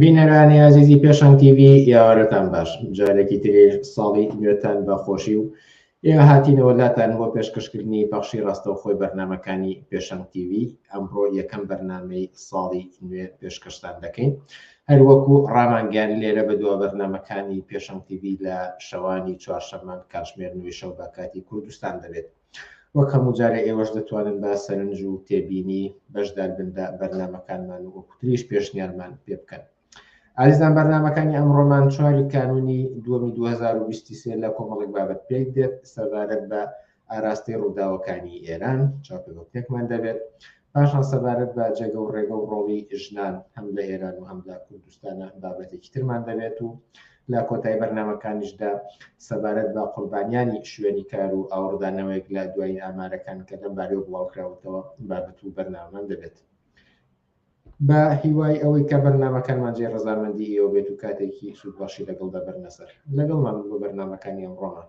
بینەرانی ئازیزی پێشان تیV یاوارەتان باش جارێکی تری ساڵی نوێتان بە خۆشی و ئێ هاتینەوە لاتان بۆ پێشکەشکردنی پەخشی ڕاستەو خۆی بەرنمەکانی پێشان تیV ئەمڕۆ یەکەم بەرنمەی ساڵی نوێ پێشکەشتان دەکەین هەروەکو ڕامانگەیان لێرە بە دوا بەرنمەکانی پێشان تیV لە شەوانی چوارشەمان کاتژمێر نوێ شەو بە کاتی کوردستان دەبێت وەک هەموو جارێ ئێوەش دەتوانن بە سەرنج و تێبینی بەشدار بن لە بەرنامەکانمان و وەکو تریش پێشنیارمان پێ بکەن. ئازیزان بەرنامەکانی ئەمڕۆمان چواری کانونی دووەمی 2023 لە کۆمەڵێک بابەت پێک دێت سەبارەت بە ئاراستەی ڕووداوەکانی ئێران چاپێکمان دەبێت پاشان سەبارەت بە جێگە و ڕێگە و ڕۆڵی ژنان هەم لە ئێران و هەم لە کوردستانە بابەتێکی ترمان دەبێت و لە کۆتایی بەرنامەکانیشدا سەبارەت بە قوربانیانی شوێنی کار و ئاوڕدا نەوەیەک لە دوایین ئامارەکان کە لەم بارەوە بڵاوکراوەتەوە بابەت و بەرنامەمان دەبێت. بە هیوای ئەوەی کە بەرنمەکانمان جێ ڕزامەندی ئێوە بێت و کاتێکی سوود باشی لەگەڵدا بەرنەسەر لەگەڵمان بۆ بەرنمەکانی ئەمڕۆمان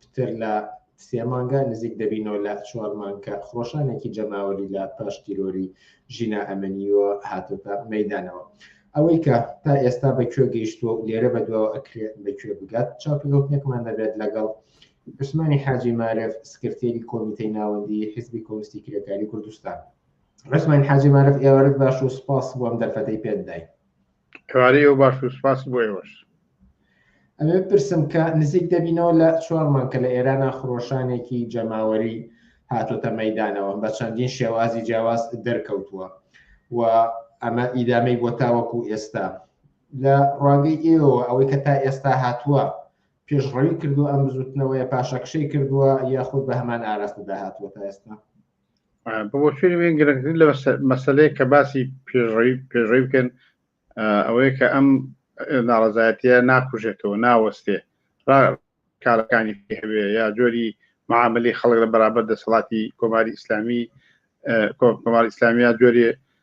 پتر لە سێ مانگە نزیک دەبینەوە لە چوار مانکە خۆشانێکی جەماوەری لە پاش تیرۆری ژینا ئەمەنیوە هاتۆتە مەدانەوە ئەوەی کە تا ئێستا بە کوێ گەیشتووە لێرە بە دواوە ئەکرێ بە کوێ بگات چاپلۆتێکمان دەبێت لەگەڵ عوسمانی حاجی مارف سکرتێری کۆمیتەی ناوەندی حزبی کۆستی کرێکاری کوردستان ڕسمان حاجی مارف ئێوارت باش و سپاس بۆم دەرفەتەی پێدای کاری و باش و سپاس بۆ ئێوەش. ئەمێ پرسم کە نزیک دەبینەوە لە چوار مانگ کە لە ئێرانە خرۆشانێکی جەماوەری هاتۆتە مەیدانەوە بە چەندین شێوازی جیاواز دەرکەوتووە و ئەمە ئیدامەی بۆ تاوەکو ئێستا لە ڕوانگەی ئێوە ئەوەی کە تا ئێستا هاتووە پێشڕەوی کردو ئەم بزوتنەوەیە پاشەکشەی کردووە یاخود بە هەمان ئاراستەدا هاتووە تا ئێستا بۆچوونی من گرنگترین لە مەسلەیە کە باسی پێشڕەوی پێشڕەوی بکەن ئەوەیە کە ئەم ناڕزایەتە ناکوژێتەوە ناوەستێ کارەکانی هەوێ یا جۆری معاملی خەڵک لە بەرابەر دەسەڵاتی کۆماری ئیسلامی کۆمار ئیسلامیا جۆری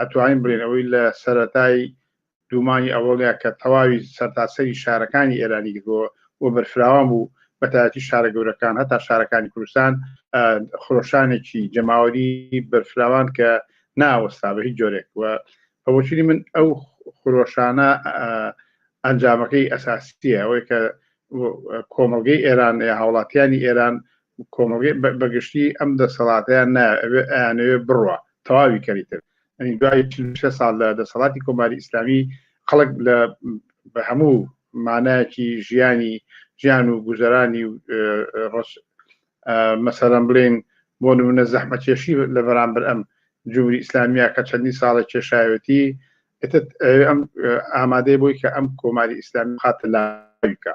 ئەتوانین بڵێین ئەوەی لە سەرەتای دوومانی ئەوەڵیا کە تەواوی سەرتاسەری شارەکانی ئێرانی گرتەوە و بەرفراوان بوو بەتایەتی شارە گەورەکان هەتا شارەکانی کوردستان خرۆشانێکی جەماوەری بەرفراوان کە ناوەستا بە هیچ جۆرێک و بەوەچنی من ئەو خرۆشانە ئەنجامەکەی ئەساسیە ئەوەی کە کۆمەلگەی ئێران یا هاوڵاتیانی ئێران کۆمەلگەی بەگشتی ئەم دەسەڵاتیان ناوێت بڕە تەواوی کەری تر ئەنی دوای چل و شەش ساڵ لە دەسەڵاتی کۆماری ئیسلامی خەڵک لە بە هەموو مانایەکی ژیانی ژیان و گوزەرانی و ڕەش مەسەرەم بڵێن بۆ نمونە زەحمەتێشی لە بەرامبەر ئەم جمهوری ئیسلامیە کە چەندی ساڵە کێشایەتی ئێتت ئەم ئامادەی بۆی کە ئەم کۆماری ئیسلامی خاتە لاویکە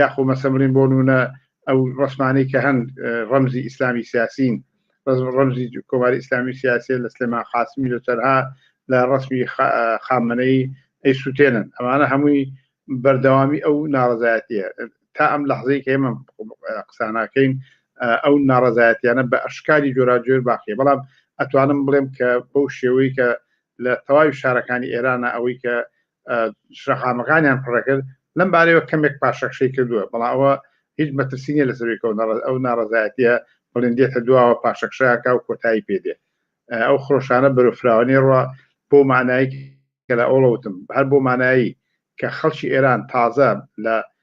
یاخۆ مەسەمرین بۆ نونە ئەو ڕسمانەی کە هەن ڕەمزی ئیسلامی سیاسین ڕەمزی کۆماری ئیسلامی سیاسی لە سلێمان قاسمی لە تەرها لە ڕسمی خامنەی ئەی سووتێنن ئەمانە هەمووی بەردەوامی ئەو ناڕزایەتە تا ئەم لەحزەی کە ئمە قساناکەین ئەو ناڕزایەتیانە بە ئەشکاری جۆراجۆر باقیە بەڵام ئەتوانم بڵێم کە بەو شێوەی کە لە تەواوی شارەکانی ئێرانە ئەوەی کە شەقامەکانیان پڕەکرد لەم بارەیەوە کەمێک پاشەخشەی کردووە بەڵام ئەوە هیچ مەترسینە لە سەرێکەوە ئەو ناڕزایەتە بڵندێتە دواوە پاشەخشاکە و کۆتایی پێدێ ئەو خۆشانە بەرەفراوانی ڕە بۆ مانایی کە لە ئەوڵەوتم هەر بۆ مانایی کە خەڵکی ئێران تازە لە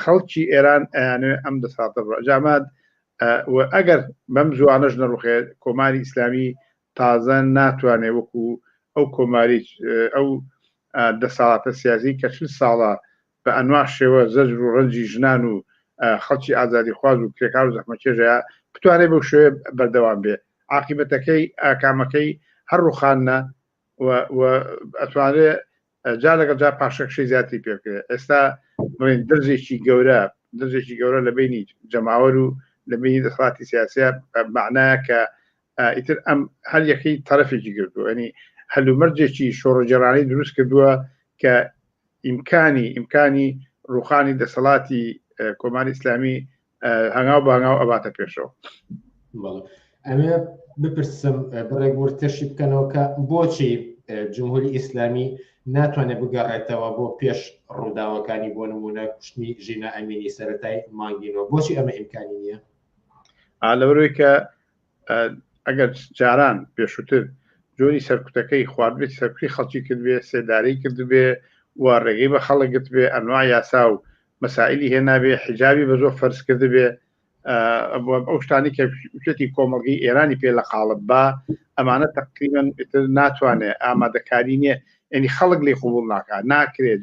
خەڵکی ئێران ئەیانەوێت ئەم دەساتە بڕ جامات و ئەگەر بەم زوانەش نەڕوخێ کۆماری ئیسلامی تازە ناتوانێت وەکو ئەو کۆماری ئەو دەساڵاتە سیاسی کە چل ساڵە بە ئەنوا شێوە زەجر و ڕەنجی ژنان و خەڵکی ئازادی خواز و کرێکار و زەحمەکێژەیە بتوانێت بەو شوێ بەردەوام بێ عقیبەتەکەی ئاکامەکەی هەر ڕوخانە ئەتوانێ جا لەگەڵ جا پاشەکشەی زیاتی پێکرێت ئێستا بڵین دەرزێکی گەورە دەرزێکی گەورە لە بینی جەماوەر و لە بینی دەسڵاتی سیاسە معناە کە ئیتر ئەم هەر یەکەی تەرەفێکی گردو ئەنی هەلومەرجێکی شۆڕجێرانی دروست کردووە کە ئیمکانی ئیمکانی ڕوخانی دەسەڵاتی کۆماری ئیسلامی هەنگاو بە هەنگاو ئەباتە پێشەوە ئەمێ بپرسم بڕێک ورتەشی بکەنەوە کە بۆچی جمهوری ئیسلامی ناتوانێت بگەڕێتەوە بۆ پێش ڕووداوەکانی بۆ نمونە کوشتنی ژینا ئەمینی سەتای مانگینەوە بۆچی ئەمە ئیمکانی نییە لەبەرەوەی کە ئەگەر جاران پێشووتر جۆری سەرکوتەکەی خواردبێت سەرکوی خەڵکی کردبێ سێدارەی کردبێ و ڕێگەی بە خەڵک گرت بێ ئەنوا یاسا و مەسائلی هێنابێ حجاوی بە زۆر فەرز کرد بێ ئەو شتانی کە شتی کۆمەڵگەی ئێرانی پێ لە قاڵب با ئەمانە تەقریبن ناتوانێت ئامادەکاری نییە ئەنی خەڵک لێ قوبول ناکات ناکرێت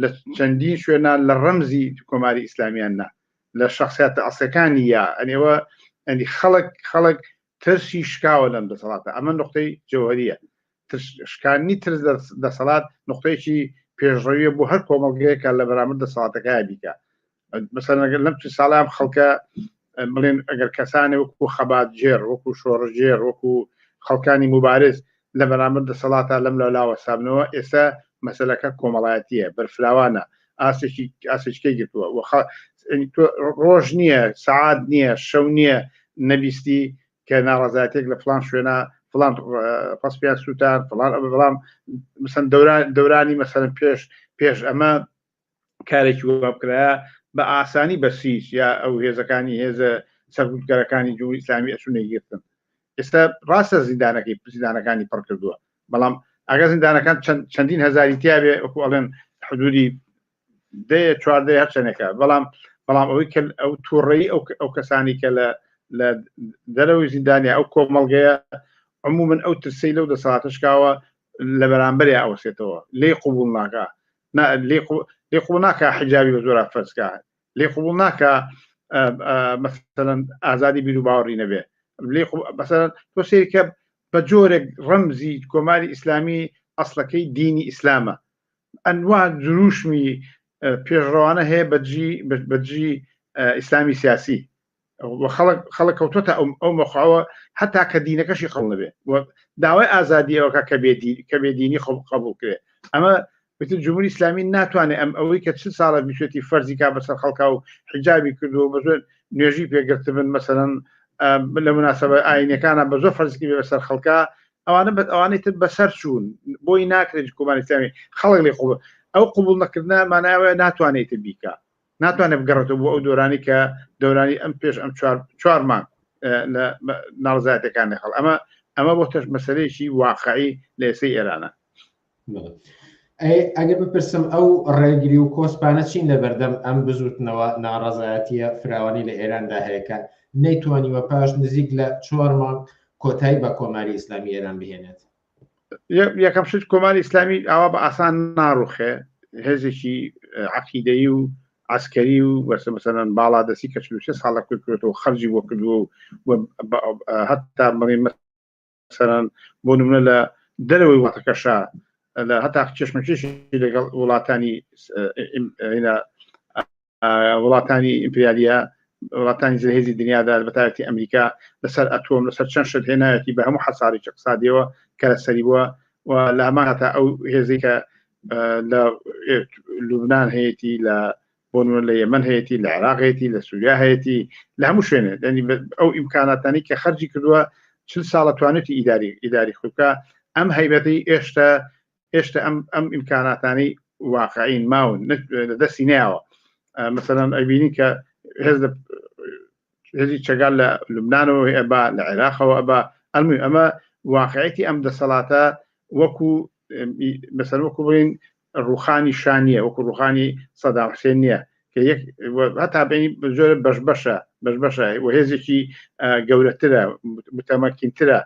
لە چەندین شوێنە لە ڕەمزی کۆماری ئیسلامیان نا لە شخصیاتە ئەسەکانی یا ئەنێوە ئەنی خەڵک خەڵک ترسی شکاوە لەم دەسەڵاتە ئەمە نقطەی جەوهریە شکانی ترس دەسەڵات نقطەیەکی پێشڕەویە بۆ هەر کۆمەڵگەیەکە لە بەرامەر دەسەڵاتەکە بیکە مەسەلەن ئەگەر لەم چل ساڵە ئەم خەڵکە بڵێن ئەگەر کەسانێ وەکو خەباتگێڕ وەکو شۆڕژگێڕ وەکو خەڵکانی مبارز لە بەرامبەر دەسەڵاتە لەم لە لاوە سابنەوە ئێستا مەسلەکە کۆمەڵایەتیە بەرفراوانە ئاسێکی ئاسێچکەی گرتووە وەخە ڕۆژ نییە سعات نییە شەو نییە نەبیستی کە ناڕزاتێک لە فلان شوێنە فلان پسپیان سووتان فلان بەڵام مثلەن دەوران دەورانی مەسەرم پێش پێش ئەمە کارێکی وەها بکرایە بە ئاسانی بە سیج یا ئەو هێزەکانی هێزە سەرگوتگەرەکانی جمهوری ئیسلامی ئەچوونە گرتن ئێستا ڕاستە زیندانەکەی زیندانەکانی پڕ کردووە بەڵام ئەگە زیندانەکان چەندین هزاری تیاێ ئەکو ئەڵێن حدودی دێ چواردە هەر چەندێکە بەڵام بەڵام ئەوەی کە ئەو تووڕێی ئەو کەسانی کە لە لە دەرەوەی زیندانیا ئەو کۆمەڵگەیە عمومن ئەو ترسی لەو دەساتشکاوە لە بەرامبەر ئەوسێتەوە لێ قوبول ناکە لێ قوڵ ناکە حجاوی بە زۆرا فەرزکە لێ قوڵ ناکە مەسەن ئازادی بیر و باوەڕی نەبێ لێ بەسەر تۆ سێکە بە جۆرێک ڕەمزی کۆماری ئیسلامی ئەسلەکەی دینی ئیسلامە ئەنوا دروشمی پێشڕەوانە هەیە بەجی بەجی ئیسلامی سیاسی خەڵک خەڵک کەوتۆتە ئەو ئەو مەخواوە حتا کە دینەکەشی قەڵ نەبێ داوای ئازادی ئەوکە کە بێدی کە بێدینی خۆ قبول کرێ ئەمە بتر جمهوری ئسلامی ناتوانێت ئەم ئەوەی کە چ ساڵە بیشێتی فەرزی کا بەسەر خەڵکا و حجابی کردو بە زۆر نوێژی پێگرت بن مەسەرەن لە مناسبە ئاینەکانە بە زۆر فەرزکی بێ بەسەر خەڵکە ئەوانە بە ئەوانەی تر بەسەر چوون بۆی ناکرێت کۆمانستانی خەڵک لێ قوڵ ئەو قوبول نەکردە مانایوە ناتوانێت بیکە ناتوانێت بگەڕێتەوە بۆ ئەو دۆرانی کە دەورانی ئەم پێش ئەم چوار مانگ لە ناڕزایەتەکان نەخڵ ئەمە ئەمە بۆ تەش مەسلەیەکی واقعی لە ئێسەی ئێرانە ئەگە بپرسم ئەو ڕێگری و کۆسپانە چین لە بەردەم ئەم بزوتنەوە ناڕزایەتیە فراوانی لە ئێراندا هەیەکە نەیتوانیوە پاش نزیک لە چوار مانگ کۆتایی بە کۆماری ئیسلامی ئێران بهێنێت یەکەم شت کۆماری ئیسلامی ئاوا بە ئاسان ناڕوخێ هێزێکی عقیدەی و ئاسکەری و بەسە مەسەرەن باڵا دەستی کە چلوشە ساڵە کردکرێتەوە خەرجی بۆ کردووە و هەتا مڕی مەسەرەن بۆ نمونە لە دەرەوەی وڵاتەکەشە لە هەتا چشمەکیش لەگەڵ وڵاتانی وڵاتانی ئیمپریالیە وڵاتانی زلهێزی دنیادا بەتایەتی ئەمریکا لەسەر ئەتۆم لەسەر چەند شت هێنایەتی بە هەموو حەسارێکی قسادەوە کە لەسەری بووە و لە هەمان هەتا ئەو هێزی کە لە لوبناان هەیەی لە بۆ لە یەمن هەیەی لە عراقێتی لە سووریا هەیەی لە هەموو شوێنێ دەنی ئەو ئیمکاناتانی کە خەرجی کردووە چل ساڵە توانێتی ئیداری ئیداری خوکە ئەم هەیبەتی ئێشتا هێشتا ئەم ئەم ئیمکاناتانی واقعین ماون لە دەستی ناوە مەسەرەن ئەبینی کە هێز لە هێزی چگال لە لوبناانەوە ئەبا لە عێراقەوە ئەبا ئەلمی ئەمە واقعەتی ئەم دەسەڵاتە وەکو بەسەر وەکو بڵین ڕوخانی شانە وەکو ڕوخانی سەداحسێن نییە هەتا بینی زۆر بەش بەشە بەش بەشە و هێزێکی گەورەترە متەمەکینترە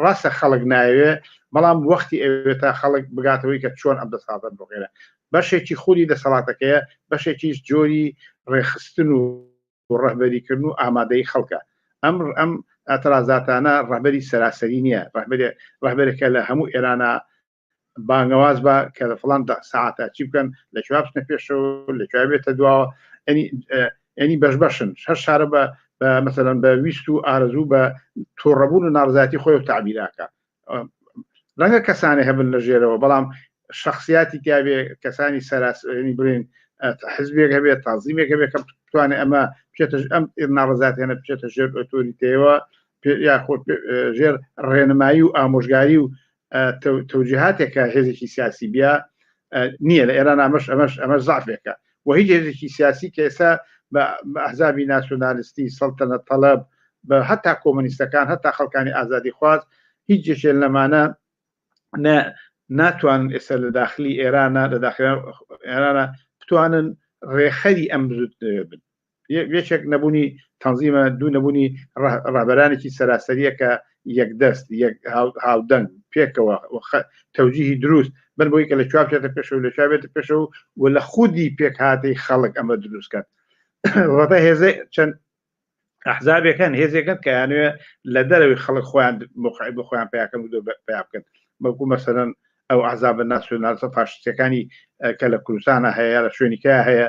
ڕاستە خەڵک ناوێ بەڵام وەختی ئەوێت تا خەڵک بگاتەوەی کە چۆن ئەم دەسەڵاتە بغێرە بەشێکی خودی دەسەڵاتەکەیە بەشێکی جۆری ڕێخستن و ڕەهبەریکردن و ئامادەی خەڵکە ئەم ئەم ئەترازاتانە ڕەبەری سەراسەری نییە ڕەبەرێ ڕەبەرێکە لە هەموو ئێرانە بانگەواز بە کە لە فلان ساعتە چی بکەن لە کوێ بچنە پێشەوە لە کوێ بێتە دواوە ئەنی بەش بەشن هەر شارە بە مەسەرەن بە ویست و ئارزوو بە تۆڕەبوون و ناڕزاتی خۆی و تعبیراکە ڕەنگە کەسانی هەبن لە ژێرەوە بەڵام شخصیاتی تیاێ کەسانی سەراسەرنی برین حزبێک هەبێت تازیمێک هەبێت کە بتوانێت ئەمە بچێتە ئەم ناڕزاتێنە بچێتە ژێر ئۆتۆریتەوە یاخۆ ژێر ڕێنمایی و ئامۆژگاری و تەوجیهاتێکە هێزێکی سیاسی بیا نییە لە ئێران ئەمەش ئەمەش ئەمە زعفێکە و هیچ هێزێکی سیاسی کە ئێستا بە ئەحزابی ناسیۆنالیستی سەڵتەنە تەڵەب بە هەتا کۆمەنیستەکان هەتا خەڵکانی ئازادی خواز هیچ جێشێن لەمانە ناتوانن ئێستا لە داخلی ئێرانە لە داخلی ئێرانە بتوانن ڕێخەری ئەم بزوتنەوە بن یەکێک نەبوونی تەنزیمە دوو نەبوونی ڕابەرانێکی سەراسەریە کە یەکدەست هاودەنگ پێکەوە تەوجیهی دروست بن بۆی کە لە چوار بچێتە پێشەوە لە چاوێت پێشەوە و لە خودی پێکهاتەی خەڵک ئەمە دروست کات ڕەتە هێزە چەند ئەحزابەکان هێزێکن کە یانوێ لە دەرەوەی خەڵک خۆیان مخعی بە خۆیان پیاکەن و پیا بکەن بەکو مەسەرەن ئەو عذاب ناسیۆنالسە فاشستەکانی کە لە کوردستانە هەیە لە شوێنیکە هەیە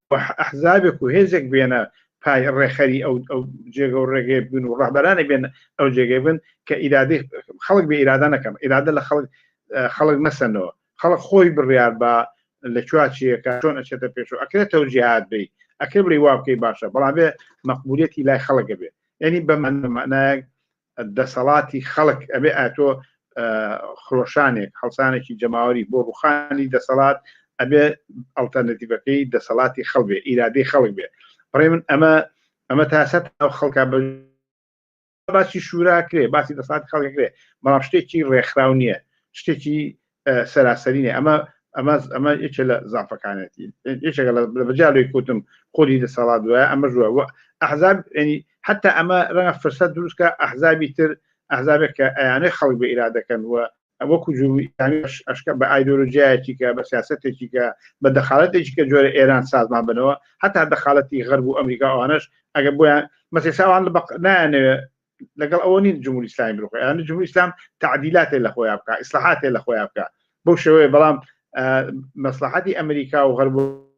ئەحزابێک و هێزێک بێنە پای ڕێخەری ئەو ئەو جێگە و ڕێگەی بن و ڕەهبەرانی بێن ئەو جێگەی بن کە ئیرادی خەڵک بە ئیرادە نەکەم ئیرادە لە خەڵک خەڵک مەسەنەوە خەڵک خۆی بڕیار بە لە چواچیەکە چۆن ئەچێتە پێش و ئەکرێت تەوجیهات بی ئەکرێ بڵی وا بکەی باشە بەڵام بێ مەقبولەتی لای خەڵکە بێ ینی بەمانەمانایەک دەسەڵاتی خەڵک ئەبێ ئاتۆ خرۆشانێک هەڵسانێکی جەماوەری بۆ ڕوخانی دەسەڵات ئەبێ ئەڵتەرنتیڤەکەی دەسەڵاتی خەڵ بێ ئیرادەی خەڵک بێ بڕێ من ئەمە ئەمە تاسە ئەو خەڵکە بە باسی شوراکرێ باسی دەسات خەڵکرێ بەڵام شتێکی ڕێکخراو نییە شتێکی سەراسەری نیە ئەمە ئەمە ئەمە یەکێ لە زانفەکانێتی یەکێکە لە بەجارێک کوتم خۆری دەسەڵات دوایە ئەمە ژوە و ئەحزاب ینی حتا ئەمە ڕەنگە فرسەت دروستکە ئەحزابی تر ئەحزابێک کە ئەیانەی خەڵک بە ئیرادەکەن وە وەکو جووری ئەشکە بە ئایدۆلۆژیایەکی کە بە سیاستێکی کە بە دەخالەتێکی کە جۆرە ئێران سازمان بنەوە هەتا دەخالەتی غەرب و ئەمریکا ئەوانش ئەگە بۆیان مەسیساوان لە بەق نایانەوێ لەگەڵ ئەوە نین جمهوری ئیسلامی بروخ یان جمهوری ئیسلام تعدیلاتێ لە خۆیان بکە ئیسلاحاتێ لە خۆیان بکە بەو شێوەیە بەڵام مەسلحاتی ئەمریکا و غەربوو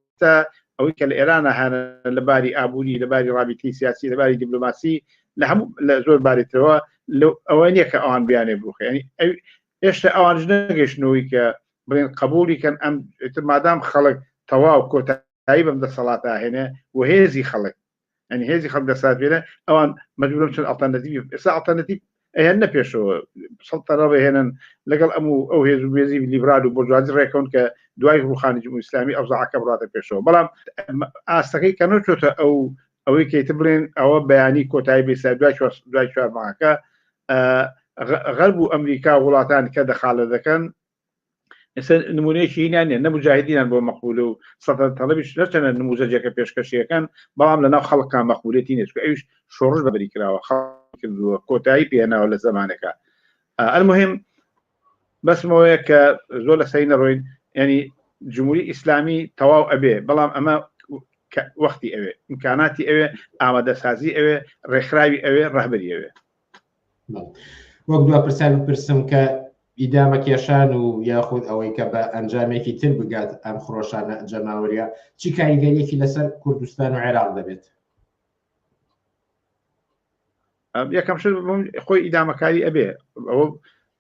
ئەوەی کە لە ئێرانە هەن لە باری ئابووری لە باری ڕابیتی سیاسی لە باری دیبلوماسی لە هەموو لە زۆر بارێتەوە ئەوە نییە کە ئەوان بیانێ بروخێنی هێشتا ئەوان نەگەشتنەوەی کە بڵێن قبولی کەن ئەم مادام خەڵک تەواو کۆتایی بەم دەسەڵاتاهێنێ و هێزی خەڵک ئەنی هێزی خەڵک دەسات بێنە ئەوان مەجبورم چەند ئەڵتەرنەتیڤ ئێستا ئەڵتەرنەتیڤ ئەیان نە پێشەوە سەڵتەرە بهێنن لەگەڵ ئەم و ئەو هێز و بێزی لیبرال و بۆجوازی ڕێکەون کە دوای ڕوخانی جمهوری ئیسلامی ئەوزاعەکە بڕاتە پێشەوە بەڵام ئاستەکەی کە نەچۆتە ئەو ئەوەی کەیت بڵێن ئەوە بەیانی کۆتایی بێسا دوای دوای چوارماکە غەرب و ئەمریکا وڵاتان کە دەخالە دەکەن ئێستا نمونەیەکی هینان نیە نەمجاهدینان بۆ مەقبول و سەدە تەڵبیش نەچەنە نموزەجێکە پێشکەشیەکان بەڵام لەناو خەڵکان مەقبولێتی نێچکە ئەوش شۆڕش بەبری کراوە خەڵکردووە کۆتایی پێناوە لە زمانەکە ئەلمهم بەسمەوەیە کە زۆر لە سەی نەڕۆین ینی جمهوری ئیسلامی تەواو ئەبێ بەڵام ئەمە وەختی ئەوێ امکاناتی ئەوێ ئامادەسازی ئەوێ ڕێکخراوی ئەوێ ڕەهبەری ئەوێ وەک دو پرسیار بپرسم کە ئیدامە کێشان و یاخود ئەوەی کە بە ئەنجامێکی تر بگات ئەم خرۆشانە جەماوەریە چی کاریگەریەکی لەسەر کوردستان و عێراق دەبێت یەکەم شت خۆی ئیدامەکاری ئەبێ ئەوە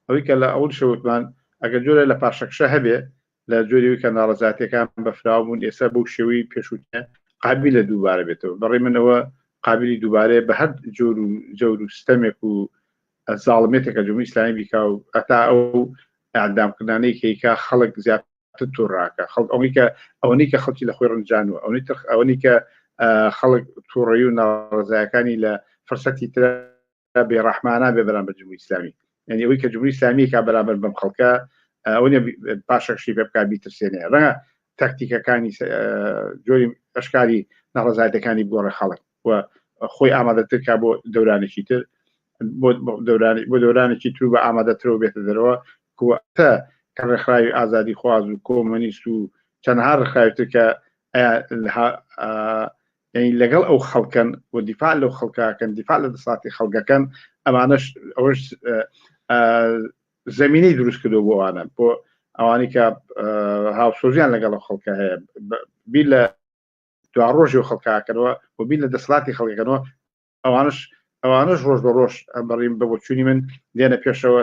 ئەوەی کە لە ئەوەی شەوتمان ئەگەر جۆرە لە پاشەکشە هەبێ لە جۆری وی کە ناڕەزاتیەکان بەفراو بوون ئێستا بەو شێوەی پێشوتە قابی لە دووبارە بێتەوە بەڕی منەوە قابلی دووبارەیە بە هەر جۆر و جەور و ستەمێک و زاڵمێتێکە جمهوری ئیسلامی بیکا و ئەتا ئەو ئەعدامکردانەی کەیکا خەڵک زیات تووڕاکە خەڵک ئەوەی کە ئەوەی کە خەڵکی لە خۆی ڕنجان و ئەوەی ترخ ئەوەی کە خەڵک تووڕی و ناڕزایەکانی لە فرسەتی تر بێڕەحمانە بێ بەرامبەر جمهوری ئیسلامی یعنی ئەوەی کە جمهوری ئیسلامی کا بەرامبەر بەم خەڵکە ئەوە پاشەکشی پێ بکات بیترسێنێ ڕەنگە تاکتیکەکانی جۆری ئەشکاری ناڕزایەتەکانی گۆڕە خەڵک و خۆی ئامادەترکە بۆ دەورانێکی تر بۆ دەورانێکی تر بە ئامادەترەوە بێتە دەرەوە کوتە کە ڕێکخراوی ئازادی خواز و کۆمەنیست و چەندها ڕخراوتر کە یعنی لەگەڵ ئەو خەڵکەن و دیفاع لەو خەڵکەکەن دیفاع لە دەساتی خەڵگەکەن ئەمانەش ئەوش زمینی دروست کردو بۆوانە بۆ ئەوانی کە هاوسۆزیان لەگەڵ خەڵکە هەیە بیر لە دواڕۆژی و خەڵکاکەەوە و بیر لە دەسڵاتی خەڵکەکەەوە ئەوانش ئەوانش ڕۆژ بە ڕۆژ بەڕیم بە بۆچوونی من دێنە پێشەوە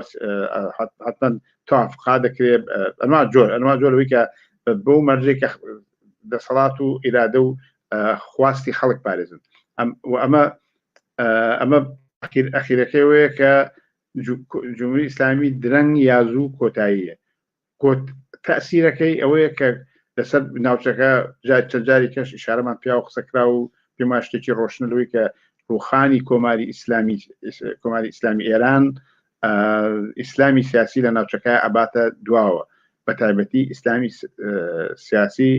حتمما تافقا دەکرێت ئەما جۆر ئەما جۆرەوەی کە بۆ مەرجێکە دەسەڵات و ئیرادە و خواستی خەڵک پارێزن ئەمە ئەمە ئەخیرەکەی وەیە کە جمهوری ئیسلامی درەنگ یازوو کۆتاییە گوت، تەئسیرەکەی ئەوەیە کە لەسەر ناوچەکە جار چەند جاری کەش ئیشارەمان پێاو قسە کراو و پێمان شتێکی ڕۆشنە لەوەی کە ڕوخانی کۆماری ئیسلامی کۆماری ئیسلامی ئێران ئیسلامی سیاسی لە ناوچەکە ئەباتە دواوە بە تایبەتی ئیسلامی سیاسی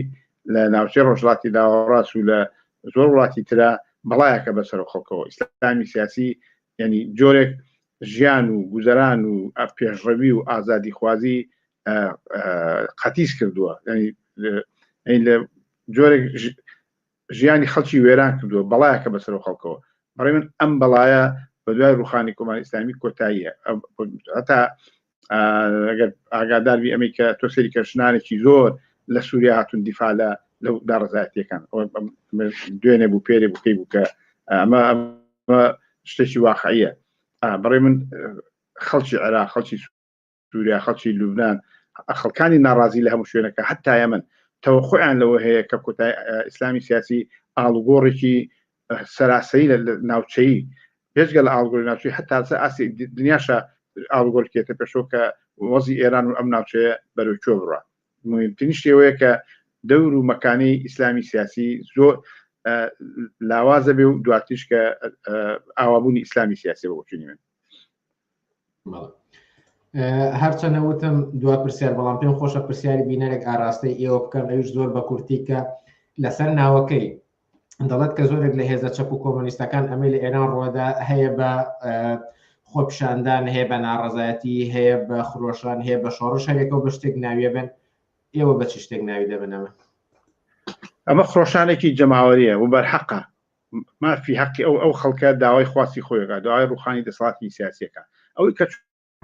لە ناوچەی ڕۆژڵاتی داوەڕاس و لە زۆر وڵاتی تررا بەڵایەکە بەسەر خەڵکەوە ئیسلامی سیاسی ینی جۆرێک ژیان و گوزەران و پێشڕەوی و ئازادی خوازی قەتیس کردووە لە جۆرێک ژیانی خەڵکی وێران کردووە بەڵایەکە بەسەر و خەڵکەوە بەڕێ من ئەم بەڵایە بە دوای ڕوخانی کۆماری ئسلامی کۆتاییە هەتا ئاگادار بی ئەمەی کە تۆ سری کەشنانێکی زۆر لە سووریا هاتون دیفاع لە لەو داڕزایەتەکان دوێنێ بوو پێرێ بکەی بوو کە ئەمە شتێکی واقعە بڕێ من خەڵکی عێرا خەڵکی سووریا خەڵکی لوبناان خەڵکانی ناڕازی لە هەموو شوێنەکە هەتایە من تەوە خۆیان لەوە هەیە کە کۆتای ئیسلامی سیاسی ئاڵوگۆڕێکی سەراسەری لە ناوچەیی بێجگە لە ئاڵگۆری ناوچەی هەتا سەر ئاستی دنیاشە ئاڵگۆر کێتە پێشەوە کە وەزی ئێران و ئەم ناوچەیە بەرەو کوێ بڕە مهمترین شێوەیە کە دەور و مەکانی ئیسلامی سیاسی زۆر لاوازە بێ و دواتیش کە ئاوابوونی ئیسلامی سیاسی بۆچونی من هەرچەنە وتم دوا پرسیار بەڵام پێم خۆشە پرسیاری بینەرێک ئاراستەی ئێوە بکەم ئەوش زۆر بە کورتی کە لەسەر ناوەکەی دەڵێت کە زۆرێک لە هێزە چەپ و کۆمەنیستەکان ئەمەی لە ئێران ڕۆدا هەیە بە خۆپشاندان هەیە بە ناڕزایەتی هەیە بە خرۆشان هەیە بە شۆڕ شارێکەوە بە شتێک ناویە بن ئێوە بە چ شتێک ناوی دەبنەمە ئەمە خرۆشانێکی جەماوەریە و بەرحەقە مافی حەقی ئەو ئەو خەڵکە داوای خواستی خۆیگا داوای ڕوخانی دەسەڵاتی سیاسەکە ئەوەی کە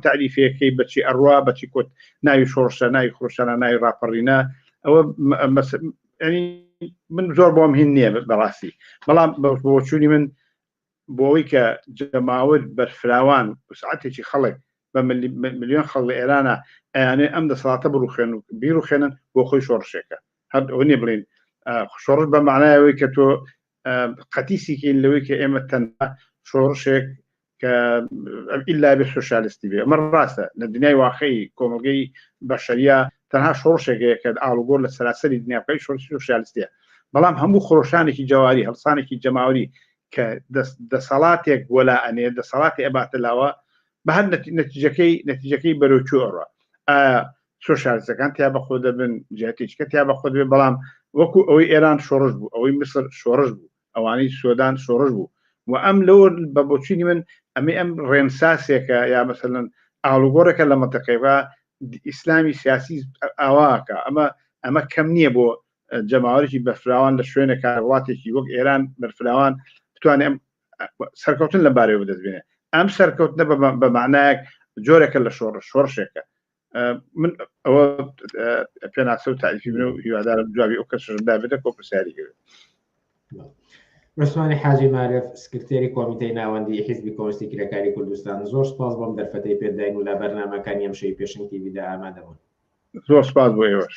تعریفەکەی بەچی ئەڕوا بەچی کۆت ناوی شۆڕشە ناوی خۆشانە ناوی ڕاپەڕینە ئەوە من زۆر بۆم هین نییە بەڕاستی بەڵام بۆچوونی من بۆەوەی کە جەماوت بەرفراوان وسعاتێکی خەڵک بە ملیۆن خەڵ لە ئێرانە ئەیانێ ئەم دەسەڵاتە بڕوخێن و بیرروخێنن بۆ خۆی شۆڕشێکە هەر ئەوە نیە بڵێن شۆڕش بە معنایەوەی کە تۆ قەتیسیکەین لەوەی کە ئێمە تەنها شۆڕشێک کە ئللا بێ سوسیالستی بێ ئەمە ڕاستە لە دنیای واقعی کۆمەلگەی بەشەریە تەنها شۆڕشێکەیە کە ئاڵوگۆر لە سەراسەری دنیاکەی شۆرسی سوسیالستە بەڵام هەموو خۆشانێکی جواری هەڵسانێکی جەماوری کە دەسەڵاتێک وەلا ئەنێ دەسەڵاتی ئەباتە لاوە بە هەر نەتیجەکەی نەتیجەکەی بەرەوچوو ئەڕە چۆ شارستەکان تیا بەخۆ دەبن جاتیچکە تیا بەخۆ دەبێت بەڵام وەکو ئەوەی ئێران شۆڕش بوو ئەوەی مسر شۆڕش بوو ئەوانەی سۆدان شۆڕش بوو و ئەم لەوە بە بۆچینی من ئەمە ئەم ڕێنساسێکە یا مەسەن ئاڵوگۆڕێکە لە منتەقەیەوە ئیسلامی سیاسی ئاواکە ئەمە ئەمە کەم نییە بۆ جەماوەرێکی بەفراوان لە شوێنە کاروڵاتێکی وەک ئێران بەرفراوان بتوانێت ئەم سەرکەوتن لە بارەوە دەستبێنێت ئەم سەرکەوتنە بە معنایەک جۆرەکە لە شۆڕ شۆڕشێکە من ئەوە پێناسە و تاریفی من و هیوادارم جوابی ئەو کەسشم دابێتە کۆ پرسیاری گەوێت عوسمانی حاجی مارف سکرتێری کۆمیتەی ناوەندی حیزبی کۆستی کرێکاری کوردستان زۆر سپاس بۆم دەرفەتەی پێداین و لە بەرنمەکانی ئەم شەی پێشنگ تیویدا ئامادەبوون زۆر سپاس بۆ ئێوەش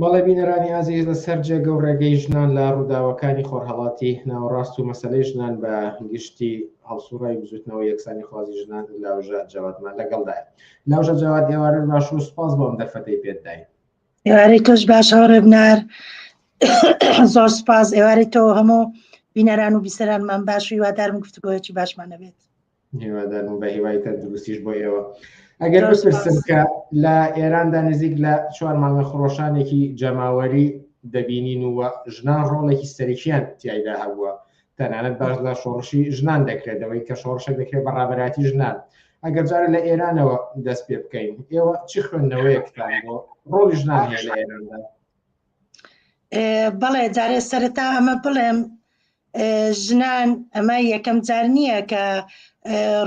بەڵێ بینەرانی ئازیز لە سەر جێگە و ڕێگەی ژنان لە ڕووداوەکانی خۆرهەڵاتی ناوەڕاست و مەسەلەی ژنان بە گشتی هەڵسوڕای بزوتنەوە یەکسانی خوازی ژنان لاوژە جەوادمان لەگەڵدایە لاوژە جەواد ئێوارە باش و سپاس بۆم دەرفەتەی پێت داین ئێوارەی تۆش باش هەوڕێ بنار زۆر سپاس ئێوارەی تۆ هەموو بینەران و بیسەرانمان باش و هیوادارم گفتگۆیەکی باشمان نەبێت هیوادارم بە هیوای تەندروستیش بۆ ئێوە ئەگەر ئەو پرسم کە لە ئێراندا نزیک لە چوار مانگە خڕۆشانێکی جەماوەری دەبینین و ژنان ڕۆڵێکی سەرکیان تایدا هەبووە تەنانەت باش لە شۆڕشی ژنان دەکرێتەوەی کە شۆڕشە دەکرێت بە ڕابەراتی ژنان ئەگەر جارە لە ئێرانەوە دەست پێ بکەین ئێوە چی خوێندنەوەیەکتان بۆ ڕۆڵی ژنان هەیە لە ئێراندا بەڵێ جارێ سەرەتا ئەمە بڵێم ژنان ئەمە یەکەم جار نییە کە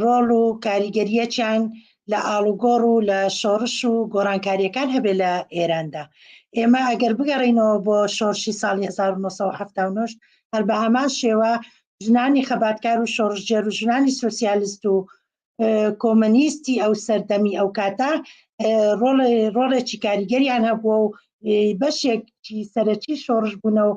ڕۆڵ و کاریگەریەکیان لە ئاڵوگۆڕ و لە شۆڕش و گۆڕانکاریەکان هەبێ لە ئێراندا ئێمە ئەگەر بگەڕینەوە بۆ شۆرشی ساڵی 1970 هەر بە هەمان شێوە ژنانی خەباتکار و شۆڕژێر و ژنانی سوسیالیست و کۆمەنیستی ئەو سەردەمی ئەو کاتە ڕۆڵێکی کاریگەریان هەبووە و بەشێکی سەرەکی شۆڕش بوونە و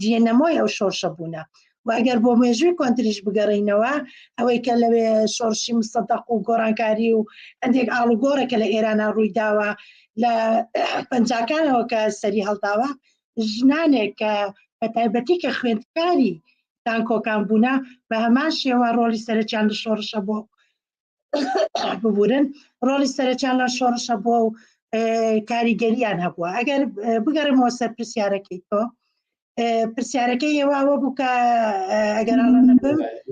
دیێنەمۆی ئەو شۆرشە بوونە و ئەگەر بۆ مێژووی کۆنتریش بگەڕینەوە ئەوەی کە لەوێ شۆرشی مسەدەق و گۆڕانکاری و هەندێک ئاڵوگۆڕە کە لە ئێرانە ڕووی داوە لە پەنجاکانەوە کە سەری هەڵداوە ژنانێک کە بە تایبەتی کە خوێندکاری دانکۆکان بوونە بە هەمان شێوە ڕۆلی سەرچیان لە شۆڕشە بۆ ببورن ڕۆلی سەرچیان لە شۆڕشە بۆ و کاریگەریان هەبووە ئەگەر بگەڕمەوە سەر پرسیارەکەی تۆ پرسیارەکە ئێواوە بووکە ئەگەر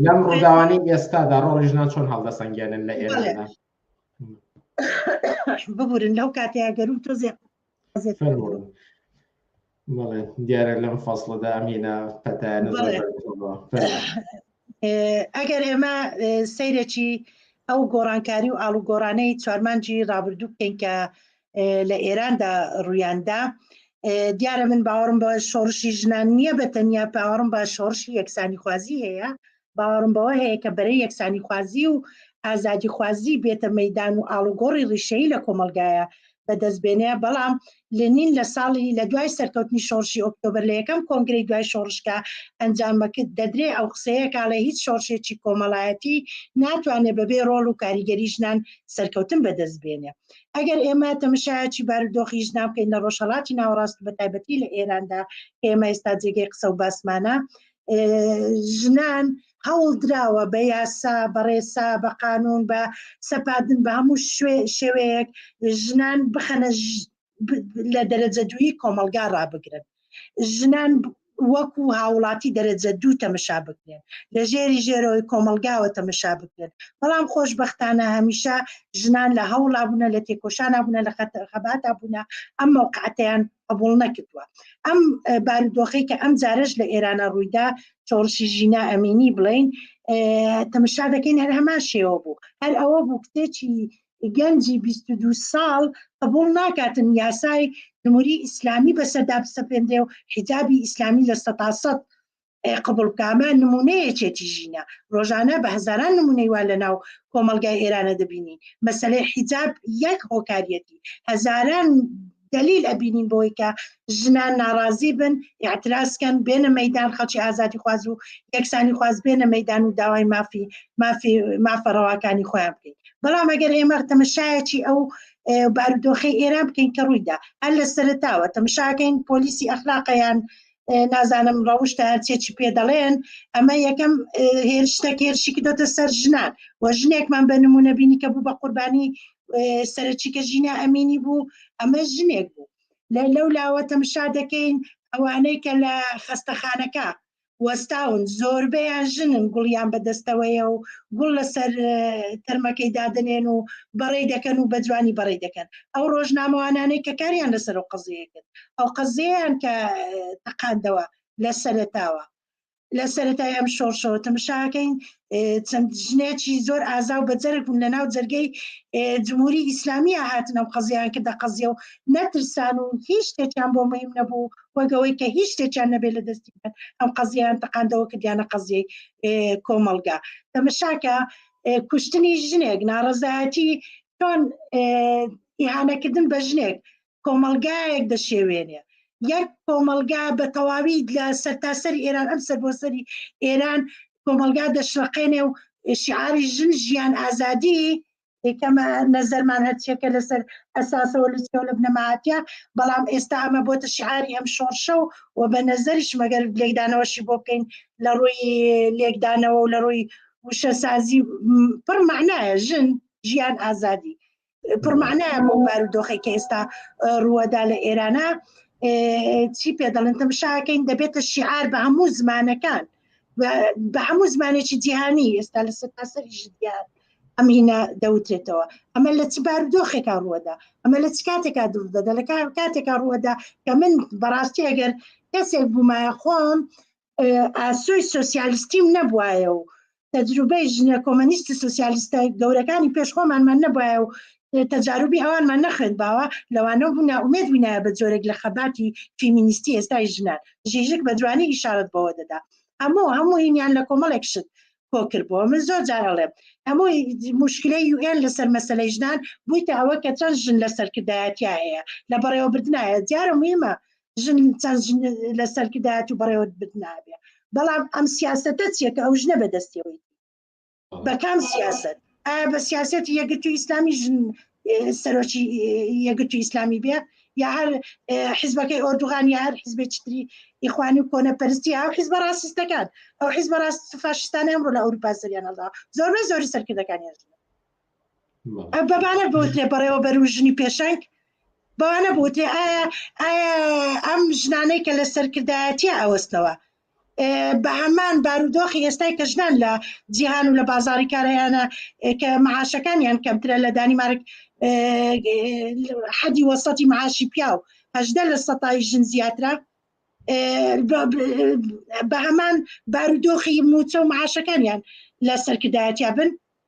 لەم ڕۆداوانی ئێستادا ڕۆژنا چۆن هەڵدەسەنگێنن لە ئێرە ببورن لەو کاتێ گەرم تۆزێ دیارە لەم فەصلەدا ئەمینە پەتایانە ئەگەر ئێمە سەیرێکی ئەو گۆڕانکاری و ئاڵو گۆڕانەی چوارمانجی ڕابردوو بکەین کە لە ئێراندا ڕوویاندا دیارە من باوەڕم بە شۆڕشی ژنان نییە بە تەنیا پاوەڕم بە شۆڕشی یەکسانی خوازی هەیە باوەڕم بەوە هەیە کە بەرەی یەکسانیخوازی و ئازادیخوازی بێتە مەدان و ئاڵوگۆڕی ڕیشەیی لە کۆمەلگایە بەدەست بێنێ بەڵام لەنین لە ساڵی لە دوای سەرکەوتنی شۆڕشی ئۆکتۆبر لە یەکەم کۆنگری دوای شۆڕشکە ئەنجامەکرد دەدرێ ئەو قسەیە کاڵێ هیچ شۆڕشێکی کۆمەڵایەتی ناتوانێت بەبێ ڕۆڵ و کاریگەری ژنان سەرکەوتن بەدەست بێنێ ئەگەر ئێمە تەمەشایەکی بارودۆخی ژنان بکەین لە ڕۆژهڵاتی ناوەڕاست بە تایبەتی لە ئێراندا ئێمە ئێستا جێگەی قسە و باسمانە ژنان هەوڵ دراوە بە یاسا بەڕێسا بە قانون بە سەپاردن بە هەموو شێوەیەک ژنان بخەنە لە دەرەجە دووی کۆمەلگا ڕابگرن ژنان وەکو هاوڵاتی دەرەجە دوو تەمەشا بکرێن لە ژێری ژێرەوەی کۆمەلگاوە تەمەشا بکرێن بەڵام خۆشببختانە هەمیشە ژنان لە هەوڵا بوونە لە تێکۆشانە بوونە لە خەباتا بوونە ئەم مەوقعاتیان قبول نەکردووە ئەم بارودۆخی کە ئەم جارش لە ئێرانە ڕوویدا چۆڕشی ژینا ئەمینی بڵین تەمەشا دەکەین هەر هەمان شێوە بوو هەر ئەوە بوو کتێکی گەنجی 22 ساڵ قبول ناکاتن یاسای جمهوری ئیسلامی بەسەردا بسەپێنرێ و حجابی ئیسلامی لە سەتاسەد قبول بکە ئەمە نمونەیەکێتی ژینە ڕۆژانە بە هزاران نمونەی وا لە ناو کۆمەلگای ئێرانە دەبینین مەسلەی حیجاب یەک هۆکاریەتی هەزاران دلیل ئەبینین بۆی کە ژنان ناڕازی بن یاعتراسکەن بێنە مەدان خەڵکی ئازادی خواز و یەکسانی خواز بێنە مەدان و داوای مافی مافی مافە ڕەواکانی خۆیان بکەین بەڵام ئەگەر ئێمە تەمەشایەکی ئەو بارودۆخی ئێران بکەین کە ڕوویدا هەر لە سەرتاوە تەمشاکەین پۆلیسی ئەخلاقیان نازانم ڕەوشتە هەرچێ چی پێ دەڵێن ئەمە یەکەم هێرشتە کێرشی کردۆتە سەر ژنان و ژنێکمان بە نمونە بینی کە بوو بە قوربانی سەرچی کە ژینا ئەمینی بوو ئەمە ژنێک بوو لە لەو لاوە تەمشا دەکەین ئەوانەی کە لە خەستەخانەکە وەستاون زۆربەیان ژنن گوڵیان بەدەستەوەیە و گوڵ لەسەر تەرمەکەی دادنێن و بەڕێ دەکەن و بە جوانی بەڕێ دەکەن ئەو ڕۆژنامەوانانەی کە کاریان لەسەر و قزیەکرد ئەو قەزیەیان کە تەقاندەوە لە سەرتاوە لە سەرەتای ئەم شۆڕشەوە تەمشاکەین چەند ژنێکی زۆر ئازا و بەجەرگ بوون لە ناو جەرگەی جمهوری ئیسلامیە هاتنە و قەزیان کە دەقەزیە و نەترسان و هیچ شتێکیان بۆ مەیم نەبوو وەگەوەی کە هیچ شتێکیان نەبێت لە دەستی ئەم قەزیان تەقاندەوە کە دیانە قەزیەی کۆمەلگا تەمەشاکە کوشتنی ژنێک ناڕزایەتی چۆن ئیهانەکردن بە ژنێک کۆمەڵگایەک دەشێوێنێ یەک کۆمەلگا بە تەواوی لە سەرتاسەر ئێران ئەم سەر بۆ سەری ئێران کۆمەلگا دەشرەقێنێ و شعاری ژن ژیان ئازادی کەمە نەزەرمان هەرچێکە لەسەر ئەساسەوە لوچکە لە بنەمااتە بەڵام ئێستا ئەمە بۆتە شعاری ئەم شۆڕشە و و بە نەزەریش مەگەر لێکدانەوەشی بۆ بکەین لە ڕووی لێکدانەوە و لە ڕووی وشەسازی پڕ معناە ژن ژیان ئازادی پڕمانایە بۆ بارودۆخی کە ئێستا ڕووەدا لە ئێرانە چی پێ دەڵێن تەمشاکەین دەبێتە شیعار بە هەموو زمانەکان بە هەموو زمانێکی جیهانی ئێستا لە سەرتاسەری ژدیان ئەم هینا دەوتێتەوە ئەمە لە چ بارودۆخێکا ڕووەدا ئەمە لە چ کاتێکا دوور دەدا لە کاتێکا ڕووەدا کە من بەڕاستی ئەگەر کەسێک بوومایە خۆم ئاسۆی سوسیالیستیم نەبواە و تەجروبەی ژنە کۆمەنیستی سوسیالیستە گەورەکانی پێش خۆمانمان نەبواە و تەجاروبی ئەوانمان نەخوێن باوە لەوانە بوونا ئومێد بووینایە بە جۆرێک لە خەباتی فیمینیستی ئێستای ژنان ژیژک بە جوانی ئیشارەت بەوە دەدا هەموو هەموو هینیان لە کۆمەڵێک شت کۆکرد بۆ من زۆر جارەڵێم هەموو مشکلی یوئێن لەسەر مەسلەی ژنان بوویتە ئەوە کە چەند ژن لە سەرکردایەتیا هەیە لە بەڕێوەبردنایە دیارە مهمە ژن چەند ژن لە سەرکردایەت و بەڕێوەت بدنابێ بەڵام ئەم سیاستە چیە کە ئەو ژنە بەدەستەوەی بە کام سیاست ئایا بە سیاست یەگرت و ئیسلامی ژن سەرۆکی یەگرت و ئیسلامی بێ یا هەر حیزبەکەی ئۆردوغان یا هەر حیزبێ چتری ئیخوانی و کۆنە پرستی ئەو حیزبە ڕاستستەکان ئەو حیزبە ڕاست فاشستانیان ڕۆ لە ئەوروپا سەریانەدا زۆربەی زۆری سەرکردەکانیان ژنە بەبانە بۆتێ بەڕێوەبەر و ژنی پێشنگ بەوانە بۆتێ ئایا ئایا ئەم ژنانەی کە لە سەرکردایەتە ئەوەستەوە بە هەمان بارودۆخی ئێستای کە ژنان لە جیهان و لە بازاری کارەیانە کە معاشەکانیان کەمترە لە دانیمارک حەدی وەسەتی معاشی پیاو هەدە لە سەتای ژن زیاترە بە هەمان بارودۆخی موچە و معاشەکانیان لە سەرکردایەتیا بن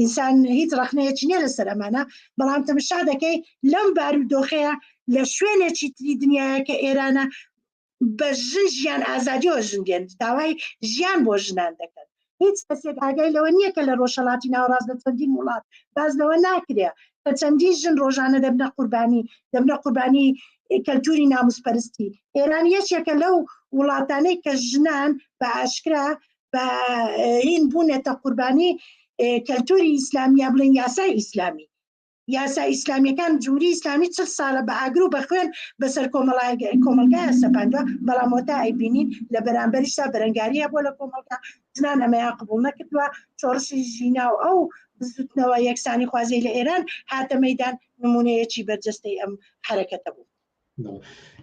ئینسان هیچ ڕخنەیەکی نیە لەسەر ئەمانە بەڵام تەمشا دەکەی لەم بارودۆخەیە لە شوێنێکی تری دنیاە کە ئێرانە بە ژن ژیان ئازادیەوە ژن دێن داوای ژیان بۆ ژنان دەکەن هیچ کەسێک ئاگای لەوە نییە کە لە ڕۆژهڵاتی ناوڕاست لە چەندین وڵات باز لەوە ناکرێ کە چەندین ژن ڕۆژانە دەبنە قوربانی دەبنە قوربانی کەلتوری ناموسپەرستی ئێران یەکێکە لەو وڵاتانەی کە ژنان بە ئاشکرا بە هین بوونەتە قوربانی کەلتوری ئیسلامی یا بڵێن یاسای ئیسلامی یاسا ئیسلامیەکان جووری ئیسلامی چ ساڵە بە ئاگر و بە خوێن بەسەر کۆمەڵای کۆمەلگای سەپاندوە بەڵام وەتا ئەیبینین لە بەرامبەرشتا بەرەنگاریە بۆ لە کۆمەڵگا ژنان ئەمەیا قبول نەکردووە چۆڕشی ژینا و ئەو بزوتنەوە یەکسانی خوازی لە ئێران هاتە مەدان نمونەیەکی بەرجەستەی ئەم حرەکەتە بوو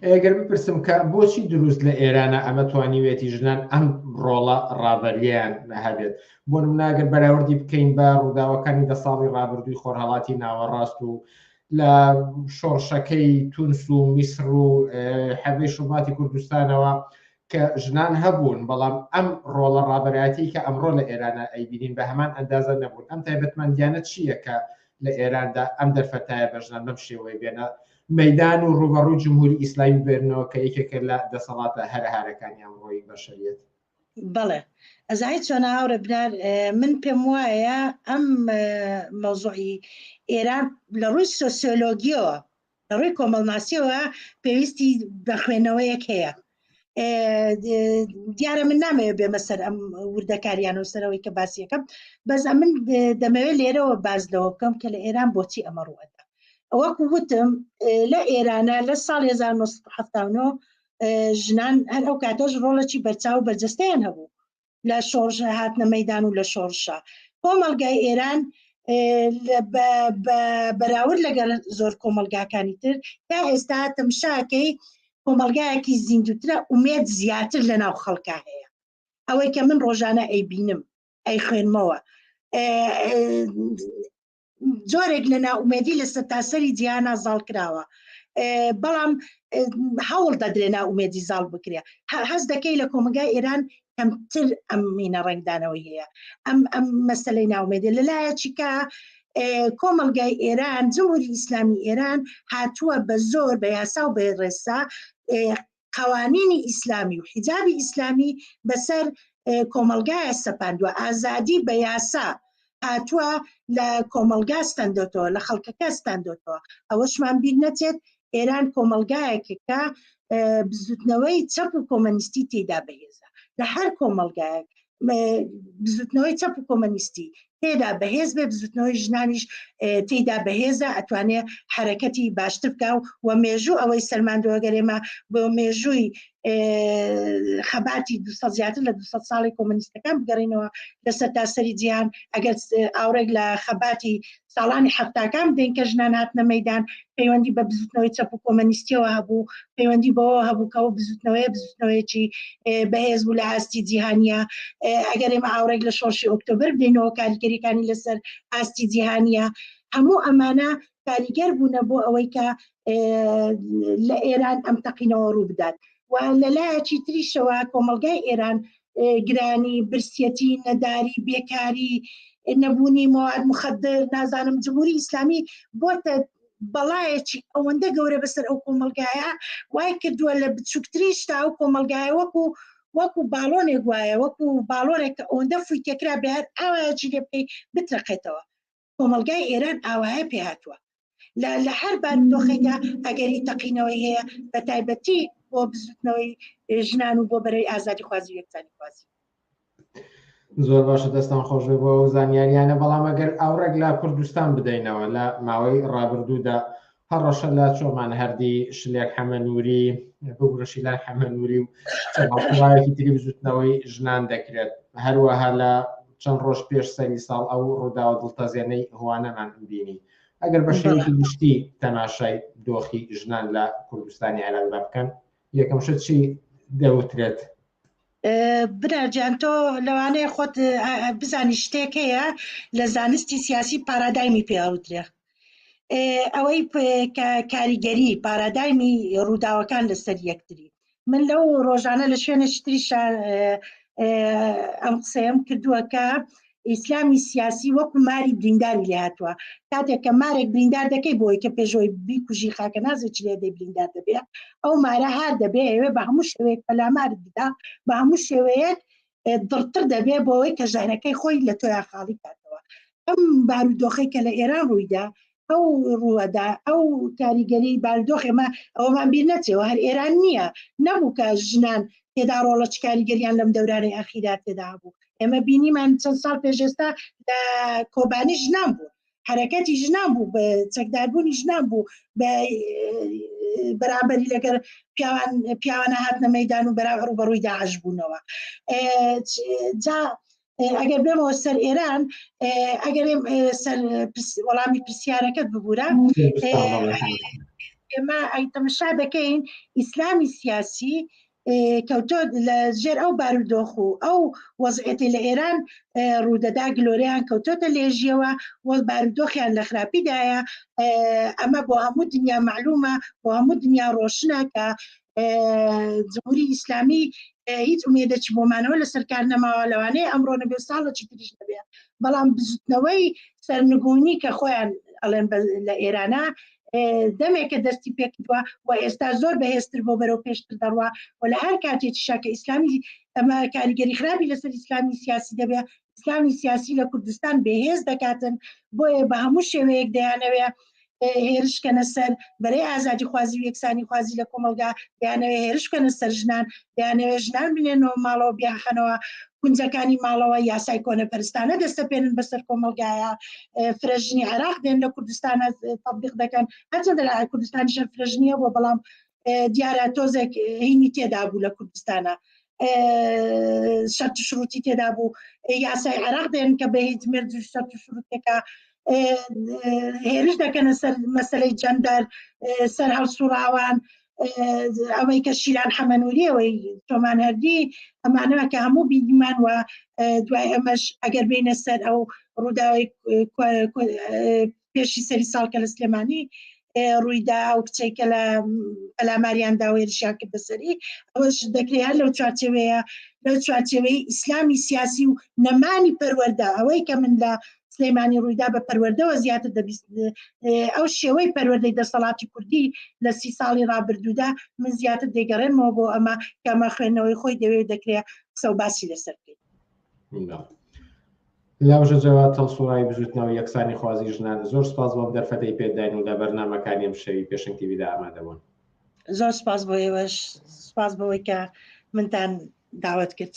ئەگەر بپرسم کە بۆچی دروست لە ئێرانە ئەمە توانیوێتی ژنان ئەم ڕۆڵە ڕابەریان هەبێت بۆ منناگەر بەراوردی بکەین بە ڕووداوەکانی دە ساڵی ڕابردووی خۆرهڵاتی ناوەڕاست و لە شۆڕشەکەی تونس و میسر و حەبی شوباتی کوردستانەوە کە ژنان هەبوون، بەڵام ئەم ڕۆڵە ڕابەرایەتیی کە ئەمڕۆ لە ئێرانا ئەیبینین بە هەمان ئەندازە نەبوون، ئەم تایبەتمەندییانە چییە کە لە ئێراندا ئەم دەرفەتایە بە ژنان بەم شێوەیە بێنە مەیدان و ڕووبەڕووی جمهووری ئیسلامی ببێنەوە کە یەکێکە لە دەسەڵاتە هەرەهارەکانی ئەمڕۆی بەشەریەت؟ بەڵێ ئەزای چۆنە هاوڕێ بنار من پێم وایە ئەم مەوزوعی ئێران لە ڕووی سۆسیۆلۆگیەوە لە ڕووی کۆمەڵناسیەوە پێویستی بە خوێنەوەیەک هەیە دیارە من نامەوێ بێمە سەر ئەم وردەکاریان و سەرەوەی کە باسیەکەم بەس ئەمن دەمەوێت لێرەوە باز لەوە بکەم کە لە ئێران بۆچی ئەمە ڕوەدا ئەوەکو وتم لە ئێرانە لە ساڵ 1970 ژنان هەر ئەو کاتەش ڕۆڵەی بەرچاو بەرجستیان هەبوو لە شۆڕش هاتنە مەدان و لە شۆڕشە کۆمەلگای ئێران بەراورد لەگەڵ زۆر کۆمەلگاکانی تر تا ئێستا تەمشاکەی کۆمەلگایەکی زیندوترە ئومێت زیاتر لە ناو خەڵکە هەیە ئەوەی کە من ڕۆژانە ئەی بینم ئەی خوێنمەوە جۆرێک لە ناومێدی لە سەرتاسەری جیهانا زاڵ کراوە بەڵام هەوڵ دەدرێ ناومێدی زاڵ بکرێ هەز دەکەی لە کۆمەگای ئێران کەمتر ئەم مینە ڕنگدانەوە هەیە ئەم ئەم مەسلەی ناومێدێ لەلایەکە کۆمەلگای ئێران جمهوری ئیسلامی ئێران هاتووە بە زۆر بە یاسا و بە ڕێسا قەوانینی ئیسلامی و حیجابی ئیسلامی بەسەر کۆمەلگایە سەپاندوە ئازادی بە یاسا هاتووە لە کۆمەلگا ستەندۆتەوە لە خەڵکەکە ستەندۆتەوە ئەوەشمان بیر نەچێت ئێران کۆمەلگایەکەکە بزوتنەوەی چەپ و کۆمەنیستی تێدا بەهێزە لە هەر کۆمەلگایەک بزوتنەوەی چەپ و کۆمەنیستی تێدا بەهێز بێ بزوتنەوەی ژنانیش تێدا بەهێزە ئەتوانێ حرەکەتی باشتر بکە و وە مێژوو ئەوەی سەلماندۆگەرێمە بۆ مێژووی خەباتی دو زیاتر لە دو ساڵی کۆمەنیستەکان بگەڕینەوە لەسەر تاسەری جیان ئەگەر ئاورێک لە خەباتی ساڵانی حەفتاکان بدەین کە ژنان هاتنە مەدان پەیوەندی بە بزوتنەوەی چەپ و کۆمەنیستیەوە هەبوو پەیوەندی بەوە هەبوو کەەوە بزوتنەوەی بزوتنەوەیەکی بەهێز بوو لە ئاستی جیهانیە ئەگەر ئێمە ئاورێک لە شۆشی ئۆکتۆبر بدەینەوە کاریگەریەکانی لەسەر ئاستی جیهانیە هەموو ئەمانە کاریگەر بوونە بۆ ئەوەی کە لە ئێران ئەم تەقینەوە ڕوو بدات و لەلایەکی تریشەوە کۆمەلگای ئێران گرانی، برسیەتی، نەداری، بێکاری، نەبوونی مواد مخدر، نازانم جمهوری ئیسلامی بۆتە بەڵایەکی ئەوەندە گەورە بەسەر ئەو کۆمەلگایە وای کردووە لە بچووکتری شتا و کۆمەلگایە وەکو وەکو باڵۆنێک وایە وەکو باڵۆنێک کە ئەوەندە فویتەکرا بێت ئاوایەکی لێ بکەیت بترەقێتەوە کۆمەڵگای ئێران ئاوایە پێ هاتووە لە لە هەر بارودۆخێکدا ئەگەری تەقینەوەی هەیە بە تایبەتی بۆ بزوتنەوەی ژنان و بۆ بەرەی ئازادی خوازی یەکسانی خوازی زۆر باشە دەستان خۆشێ بۆ ئەو زانیاریانە بەڵام ئەگەر ئاوڕێک لە کوردستان بدەینەوە لە ماوەی ڕابردوودا هەڕەشە لە چۆمان هەردی شلێک حەمە نووری بگرشی لای حەمە نووری و چەڵکی تری بزوتنەوەی ژنان دەکرێت هەروەها لە چەند ڕۆژ پێش سەری ساڵ ئەو ڕووداوە دڵتەزێنەی هوانەمان بینی ئەگەر بە شێوەی گشتی تەماشای دۆخی ژنان لە کوردستانی عێراقدا بکەن یەکەم شت چی دەوترێت برارجان تۆ لەوانەیە خۆت بزانی شتێک هەیە لە زانستی سیاسی پارادایمی پێوترێ ئەوەی کاریگەری پارادایمی ڕووداوەکان لەسەر یەکتری من لەو ڕۆژانە لە شوێنە شتری ئەم قسەیەم کردووە کە ئیسلامی سیاسی وەکو ماری برینداری لێ هاتووە کاتێک کە مارێک بریندار دەکەی بۆی کە پێشۆی بیکوژی خاکە نازێکی لێ دەی بریندار دەبێت ئەو مارە هار دەبێ ئەوێ بە هەموو شوێک پەلامار بدا بە هەموو شێوەیەک دڕتر دەبێ بۆ ئەوەی کە ژەهرەکەی خۆی لە تۆیا خاڵی کاتەوە ئەم بارودۆخی کە لە ئێران ڕوویدا ئەو ڕووەدا ئەو کاریگەری باردۆخ ئێمە ئەومان بیر نەچێەوە هەر ئێران نییە نەبوو کە ژنان تێدا ڕۆڵە چ کاریگەریان لەم دەورانەی ئاخیرا تێدا بوو ئێمە بینیمان چەند ساڵ پێشێستا لە کۆبانی ژنان بوو حرەکەتی ژنان بوو بە چەکداربوونی ژنان بوو بە بەرامبەری لەگەر پیاوان پیاوانە هاتنە مەدان و بەراغڕ و بەڕووی داعش بوونەوە جا ئەگەر بێمەوە سەر ئێران ئەگەر سەر وەڵامی پرسیارەکەت ببوورە ئێمە ئەی تەمەشا دەکەین ئیسلامی سیاسی کەوتۆ لە ژێر ئەو بارودۆخ و ئەو وەزعێتی لە ئێران ڕوودەدا گلۆریان کەوتۆتە لێژیەوە وەڵ بارودۆخیان لە خراپیدایە ئەمە بۆ هەموو دنیا معلومە بۆ هەموو دنیا ڕۆشنە کە جمهوری ئیسلامی هیچ ئومێدەچی بۆمانەوە لە سەرکار نەماوە لەوانەیە ئەمڕۆ نەبێ ساڵە چی تریش نەبێ بەڵام بزوتنەوەی سەرنگونی کە خۆیان ئەڵێن لە ئێرانە دەمێکە دەستی پێکردووە و ئێستا زۆر بەهێزتر بۆ بەرەو پێشتر دەڕوە و لە هەر کاتێکی شاکە ئیسلامی ئەمە کاریگەری خراپی لەسەر ئیسلامی سیاسی دەبێت ئیسلامی سیاسی لە کوردستان بەهێز دەکاتن بۆیە بە هەموو شێوەیەک دەیانەوێ هێرشکەنە سەر بەرەی ئازادی خوازی و یەکسانی خوازی لە کۆمەلگا دەیانەوێ هێرشکەنە سەر ژنان دەیانەوێ ژنان بنێنەوە ماڵەوە بیاخەنەوە کونجەکانی ماڵەوە یاسای کۆنەپەرستانە دەستەپێنن بەسەر کۆمەلگایە فرەژنی عراق دێن لە کوردستانە تبلیق دەکەن هەچەندە لە کوردستانی شەر فرەژنیە بۆ بەڵام دیارە تۆزێک هینی تێدا بوو لە کوردستانە شەرت شروتی تێدا بوو یاسای عراق دێن کە بە هیچ مرد شەرت شروتەکە هێرش دەکەنە سەر مەسلەی جەندەر سەر هەڵسوڕاوان ئەوەی کە شیران حەمەنووری ئەوەی تۆمان هەردی ئەمانەوە کە هەموو بیدیمان وە دوای ئەمەش ئەگەر بینە سەر ئەو ڕووداوی پێشی سەری ساڵ کە لە سلێمانی ڕوویدا ئەو کچێک کە لە ئەلاماریان داوێرشیان کرد بەسەری ئەوەش دەکرێت لەو چوارچەوەیە لەو چوارچەوەی ئیسلامی سیاسی و نەمانی پەروەەردە ئەوەی کە من لە سلەیمانی ڕوویدا بە پەروەردەوە زیاتر دەبیست ئەو شێوەی پەروەردەی دەسەڵاتی کوردی لە سی ساڵی ڕابردوودا من زیاتر دەگەڕێنەوە بۆ ئەمە کەمە خوێندنەوەی خۆی دەوێت دەکرێت قسە و باسی لەسەر بکەیت لاژە جەوا تەڵسوڕای بژوتنەوە یەکسانی خوازی ژنان زۆر سپاس بۆم دەرفەتەی پێداین و لە بەرنمەکانی ئەم شەوی پێشنگ تیویدا ئامادەبوون زۆر سپاس بۆ ئێوەش سپاس بەوەی کە منتان داوت کرد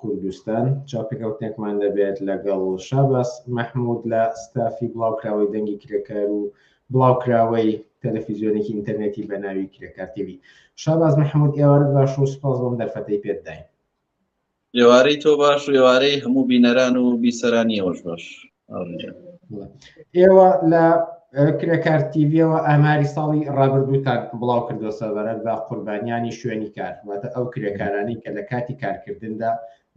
کوردستان، چاوپێکەوتنێکمان دەبێت لەگەڵ شاباس مەحمود لە ستافی بڵاوکراوەی دەنگی کرێکار و بڵاوکراوەی تەلەفیزیۆنێکی ئینتەرنێتی بە ناوی کرێکار تیوی شاباز مەحمود ئێوارت باش و سپاس بۆم دەرفەتەی پێت داین ئێوارەی تۆ باش و ئێوارەی هەموو بینەران و بیسەرانی ئەوەش باش ئێوە لە کرێکار تیڤەوە ئاماری ساڵی ڕابردووتان بڵاو کردو سەبارەت بە قوربانیانی شوێنی کار واتە ئەو کرێکارانی کە لە کاتی کارکردندا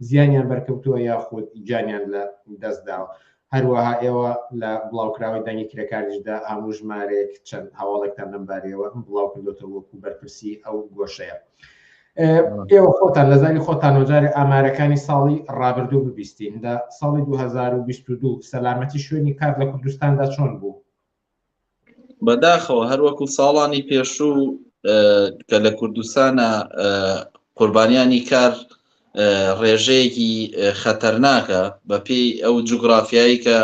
زیانیان بەرکەوتووە یاخود گیانیان لە دەستداوە هەروەها ئێوە لە بڵاوکراوی دەنگی کرێکاریشدا هەموو ژمارەیەک چەند هەواڵێکتان لەمبارەوە بڵاو کردوێتەوە وەکو بەرپرسی ئەو گۆشەیە. ئێوە خۆتان لە زاری خۆتان وەجارێ ئامارەکانی ساڵی ڕابردوو ببیستین لە ساڵی 2022 سەلامەتی شوێنی کار لە کوردستاندا چۆن بوو بەداخەوە هەروەکو ساڵانی پێشوو کە لە کوردستانە قوربانیانی کار ڕێژەیەکی خەتەرناکە بە پێی ئەو جوگرافیایی کە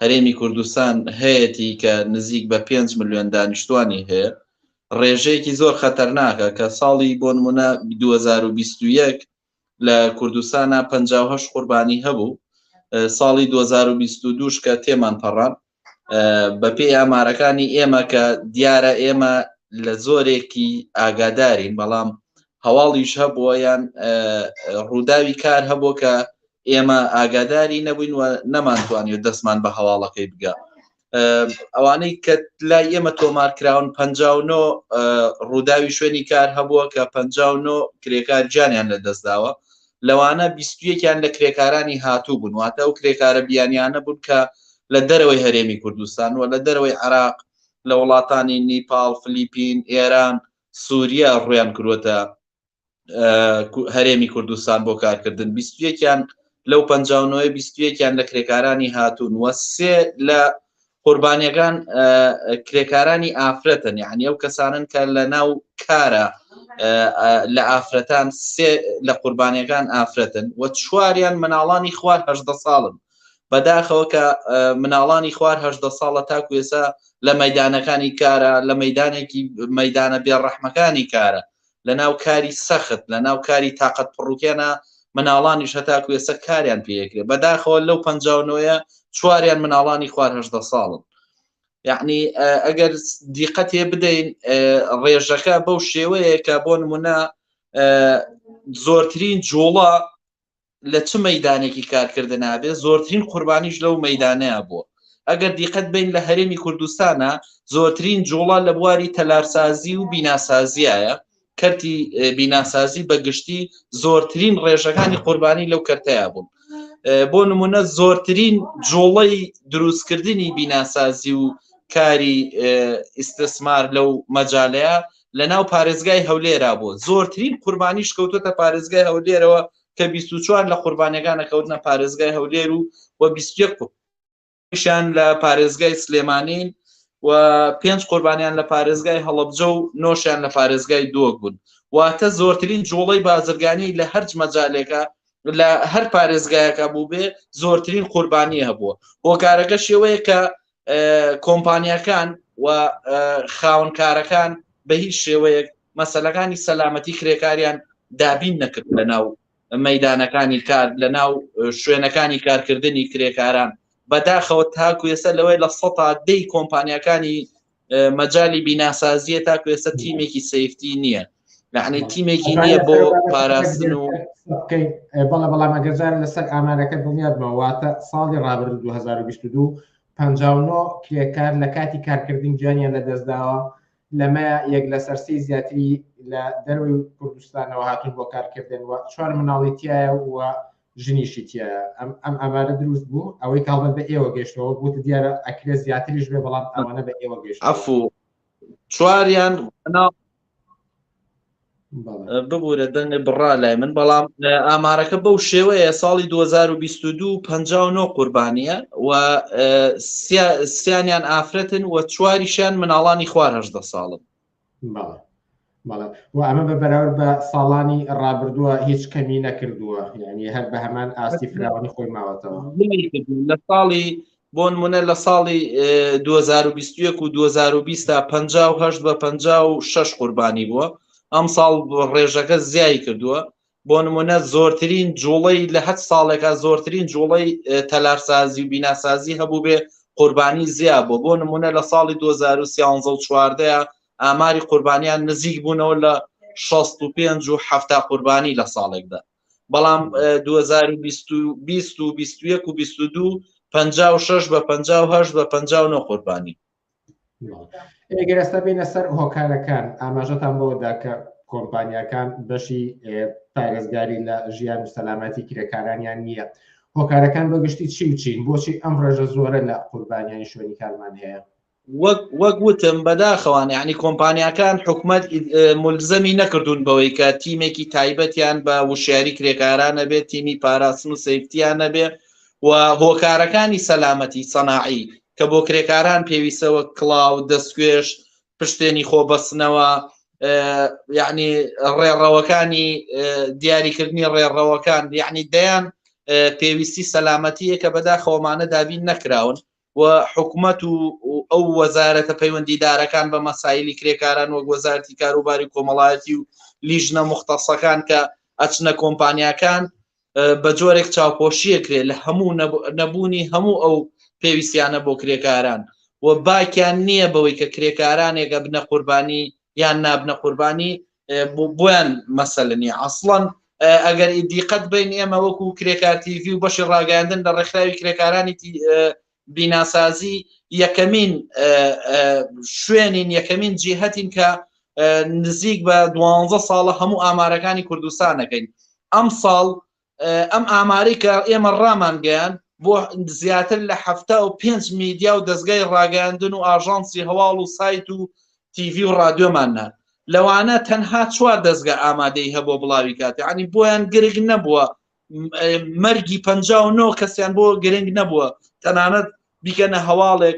هەرێمی کوردستان هەیەی کە نزیک بە 5 میلیۆن دانیشتوانی هەیە ڕێژەیەکی زۆر خەتەرناکە کە ساڵی بۆ نمونە دوو هەزار و بیست و یەک لە کوردستانا پەنجا و هەشت قوربانی هەبوو ساڵی دوو هەزار و بیست و دوو کە تێمان پەڕان بە پێی ئامارەکانی ئێمە کە دیارە ئێمە لە زۆرێکی ئاگادارین بەڵام هەواڵیش هەبووە یان ڕووداوی کار هەبوو کە ئێمە ئاگاداری نەبووین و نەمانتوانی و دەستمان بە هەواڵەکەی بگە ئەوانەی کە لای ئێمە تۆمار کراون پ ڕووداوی شوێنی کار هەبووە کە پ کرێکار جانیان لە دەستداوە لەوانە بیستویەکیان لە کرێکارانی هاتوو بوون واتە ئەو کرێکارە بیانیانە بوون کە لە دەرەوەی هەرێمی کوردستان و لە دەرەوەی عراق لە وڵاتانی نیپال فلیپین ئێران سووریا ڕویان کروەتە هەرێمی کوردستان بۆ کارکردن بیستویەکیان لەو پ نەوەی بیستویەکیان لە کرێکارانی هاتوون وە سێ لە قوربانیەکان کرێکارانی ئافرەتن یعنی ئەو کەسانن کە لە ناو کارە لە ئافرەتان سێ لە قوربانیەکان ئافرەتن و چواریان مناڵانی خوار هەدە ساڵن بەداخەوە کە مناڵانی خوار هەدە ساڵە تاکو ێسا لە مەدانەکانی کارە لە مەدانێکی مەدانە بێڕەحمەکانی کارە لەناو کاری سەخت لەناو کاری تاقەت پڕوکێنە مناڵانیش هەتاکو ئێستا کاریان پێکرێ بەداخەوە لەو پەنجاونۆیە چواریان مناڵانی خوار هەشدە ساڵن یعنی ئەگەر دیقەتێ بدەین ڕێژەکە بەو شێوەیە کە بۆ نمونە زۆرترین جوڵە لە چ مەدانێکی کارکردنابێ زۆرترین قوربانیش لەو مەدانەیە بووە ئەگەر دیقەت بین لە هەرێمی کوردستانە زۆرترین جوڵە لە بواری تەلارسازی و بیناسازیایە کەرتی بیناسازی بە گشتی زۆرترین ڕێژەکانی قوربانی لەو کەرتەیە بوون بۆ نمونە زۆرترین جوڵەی دروستکردنی بیناسازی و کاری ئیسسمار لەو مەجالەیە لە ناو پارێزگای هەولێرا بووە زۆرترین قوربانیش کەوتوتە پارێزگای هەولێرەوە کە 24 لە قوربانەکانە کەوتنە پارێزگای هەولێر و و 21 شان لە پارێزگای سلێمانین و پێنج قوربانیان لە پارێزگای هەڵبجە و نۆشیان لە پارێزگای دۆک بوون واتە زۆرترین جوڵەی بازرگانی لە هەرج مەجالێکە لە هەر پارێزگایەکە بوو بێ زۆرترین قوربانی هەبووە هۆکارەکە شێوەیە کە کۆمپانیاکان و خاونکارەکان بە هیچ شێوەیەک مەسلەکانی سەلامەتی کرێکاریان دابین نەکرد لە ناو مەدانەکانی کار لە ناو شوێنەکانی کارکردنی کرێکاران بەداخەوە تاکو ێستا لەوەی لە سەتا دەی کۆمپانیەکانی مەجای بیناسازیە تاکو ێستا تیمێکی سفتی نییە یعنی تیمێکی نییە بۆ پاراستن و بکەین بەڵە بەڵام ئەگەزار لەسەر ئامارەکە دڵنیادمەواتە ساڵی ڕابرد 2022 59 کرێکار لە کاتی کارکردن گیانیان لە دەستداوە لەمە یەک لە سەرسی زیاتری لە دەروی کوردستانەوە هاتون بۆ کارکردن و چوار مناڵی تایە و ژنیشی تایە ئەم ئەم ئامارە دروست بوو ئەوەی کاڵبەت بە ئێوە گەشتەوە بوت دیارە ئەکرێ زیاتریش بێ بەڵام ئەوانە بە ئێوە گەشت ئەفو چواریان ببوورە دەنگ بڕا لای من بەڵام ئامارەکە بەو شێوەیە ساڵی 2022 59 قوربانیە و سیانیان ئافرەتن و چواریشیان مناڵانی خوار هەشدە ساڵن و ئەمە بە بەراورد بە ساڵانی ڕابردووە هیچ کەمی نەکردووە یعنی هەر بە هەمان ئاستی فراوانی خۆی ماوەتەوە لە ساڵی بۆنمونە لە ساڵی دوو هەزار و بیست و یەک و دوو هەزار و بیست تا پەنجا و هەشت بە پەنجا و شەش قوربانی بووە ئەمساڵ ڕێژەکە زیایی کردووە بۆ نمونە زۆرترین جوڵەی لە هەت ساڵێکا زۆرترین جوڵەی تەلارسازی و بیناسازی هەبوو بێ قوربانی زیا بۆ بۆ نمونە لە ساڵی 2013 ئاماری قوربانیان نزیک بوونەوە لە 65 و 70 قوربانی لە ساڵێکدا بەڵام 2022 56 بە 56 بە 59 قوربانی ئێگەرەستا بینە سەر هۆکارەکان ئاماژەتان بەوەدا کە کۆمپانیەکان بەشی پارێزگاری لە ژیان و سەلامەتی کرێکارانیان نییە هۆکارەکان بەگشتی چی و چین بۆچی ئەم ڕێژە زۆرە لە قوربانیانی شوێنی کارمان هەیە وەک وتم بەداخەوان یعنی کۆمپانیاکان حکومت ملزەمی نەکردوون بەوەی کە تیمێکی تایبەتیان بە وشیاری کرێکارانە بێت تیمی پاراستن و سیفتیان نەبێ و هۆکارەکانی سەلامەتی سەناعی کە بۆ کرێکاران پێویستەوە کلااو دەستگوێش پشتێنی خۆ بەستنەوە یعنی ڕێڕەوەکانی دیاریکردنی ڕێڕەوەکان یعنی دەیان پێویستی سەلامەتیە کە بەداخەوەمانە دابین نەکراون و حکومەت و ئەو وەزارەتە پەیوەندیدارەکان بە مەسایلی کرێکاران وەک وەزارتی کاروباری کۆمەڵایەتی و لیژنە مختەسەکان کە ئەچنە کۆمپانیاکان بە جۆرێک چاوپۆشیە کرێ لە هەموو نەبوونی هەموو ئەو پێویستیانە بۆ کرێکاران و باکیان نییە بەوەی کە کرێکارانێکە بنە قوربانی یان نابنە قوربانی بۆیان مەسەلە نیە ئەسڵەن ئەگەر ئیدیقەت بین ئێمە وەکو کرێکارتیڤی و بەشی ڕاگەاندن لە ڕێکخراوی کرێکارانی بیناسازی یەکەمین شوێنین یەکەمین جیهتین کە نزیک بە دوانزە ساڵە هەموو ئامارەکانی کوردستانەکەین ئەم ساڵ ئەم ئامارەی کە ئێمە ڕامانگەیاند، بۆ زیاتر لە حەفتا و پێنج میدیا و دەزگای ڕاگەیاندن و ئاژانسی هەواڵ و سایت و تیڤی و ڕادیۆمان نارد، لەوانە تەنها چوار دەزگا ئامادەیی هەبووە بڵاویکات، یانی بۆیان گرنگ نەبووە مەرگی پەنجا و نۆ کەسیان بۆ گرنگ نەبووە تەنانەت بیکەنە هەواڵێک.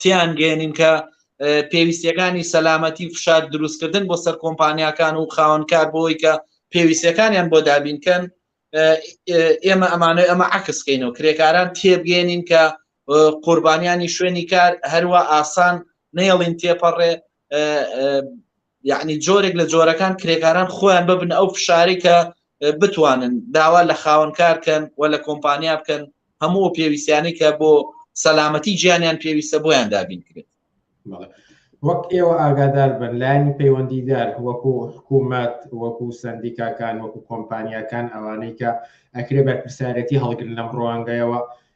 تیان گەێنین کە پێویستیەکانی سەلامەتی و فشار دروستکردن بۆ سەر کۆمپانیاکان و خاوەنکار بۆی کە پێویستەکانیان بۆ دابینکەن ئێمە ئەمانەوە ئەمە عکسکەین و کرێکاران تێبگەێنین کە قوربانیانی شوێنی کار هەروە ئاسان نێڵین تێپەڕێ یەعنی جۆرێک لە جۆرەکان کرێکاران خۆیان ببنە ئەو فشارەی کە بتوانن داوا لە خاوەنکار کەن و لە کۆمپانیا بکەن هەموو پێویستیانی کە بۆ سەلامەتی گیانیان پێویستە بۆیان دابین کرێت وەک ئێوە ئاگادار بن لایەنی پەیوەندیدار وەکو حکوومەت وەکو سندیکاکان وەکو کۆمپانیاکان ئەوانەی کە ئەکرێ بەرپرسیارەتی هەڵگرن لەم ڕوانگەیەوە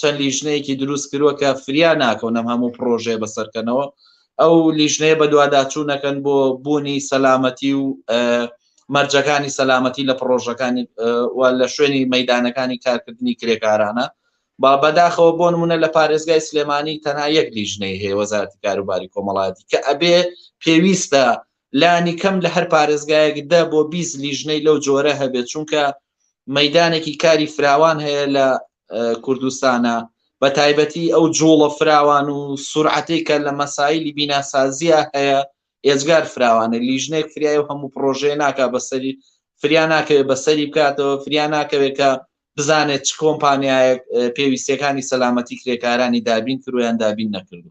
چەند لیژنەیەکی دروست کردوە کە فریا ناکەون ئەم هەموو پرۆژەیە بەسەرکەنەوە ئەو لیژنەیە بەدواداچوونەکەن بۆ بوونی سەلامەتی و مەرجەکانی سەلامەتی لە پرۆژەکانی و لە شوێنی مەدانەکانی کارکردنی کرێکارانە با بەداخەوە بۆ نمونە لە پارێزگای سلێمانی تەنها یەک لیژنەی هەیە وەزارتی کاروباری کۆمەڵاتی کە ئەبێ پێویستە لانی کەم لە هەر پارێزگایەک دە بۆ بیست لیژنەی لەو جۆرە هەبێت چونکە مەدانێکی کاری فراوان هەیە لە کوردستانە بە تایبەتی ئەو جوڵە فراوان و سرعەتی کە لە مەسایلی بیناسازیە هەیە ئێجگار فراوانە لیژنێک فریای و هەموو پرۆژێ ناکە بەسەری فریا ناکەوێت بەسەری بکاتەوە فریا ناکەوێت کە بزانێت چ کۆمپانیایەک پێویستەکانی سەلامەتی کرێکارانی دابین کرویان دابین نەکردو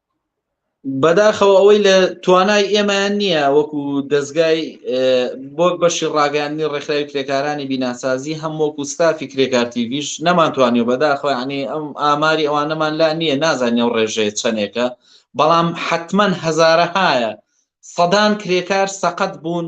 بەداخەوە ئەوەی لە توانای ئێمەیان نییە وەکو دەستگای بۆک بەشی ڕاگەاندنی ڕێکخراوی کرێکارانی بیناسازی هەم وەکو ستافی کرێکارتیویش نەمانتوانی و بەداخۆیانی ئەم ئاماری ئەوانەمان لا نییە نازانانی و ڕێژەیە چەندێکە بەڵام حتمما هەزارەهایە سەدان کرێکار سەقەت بوون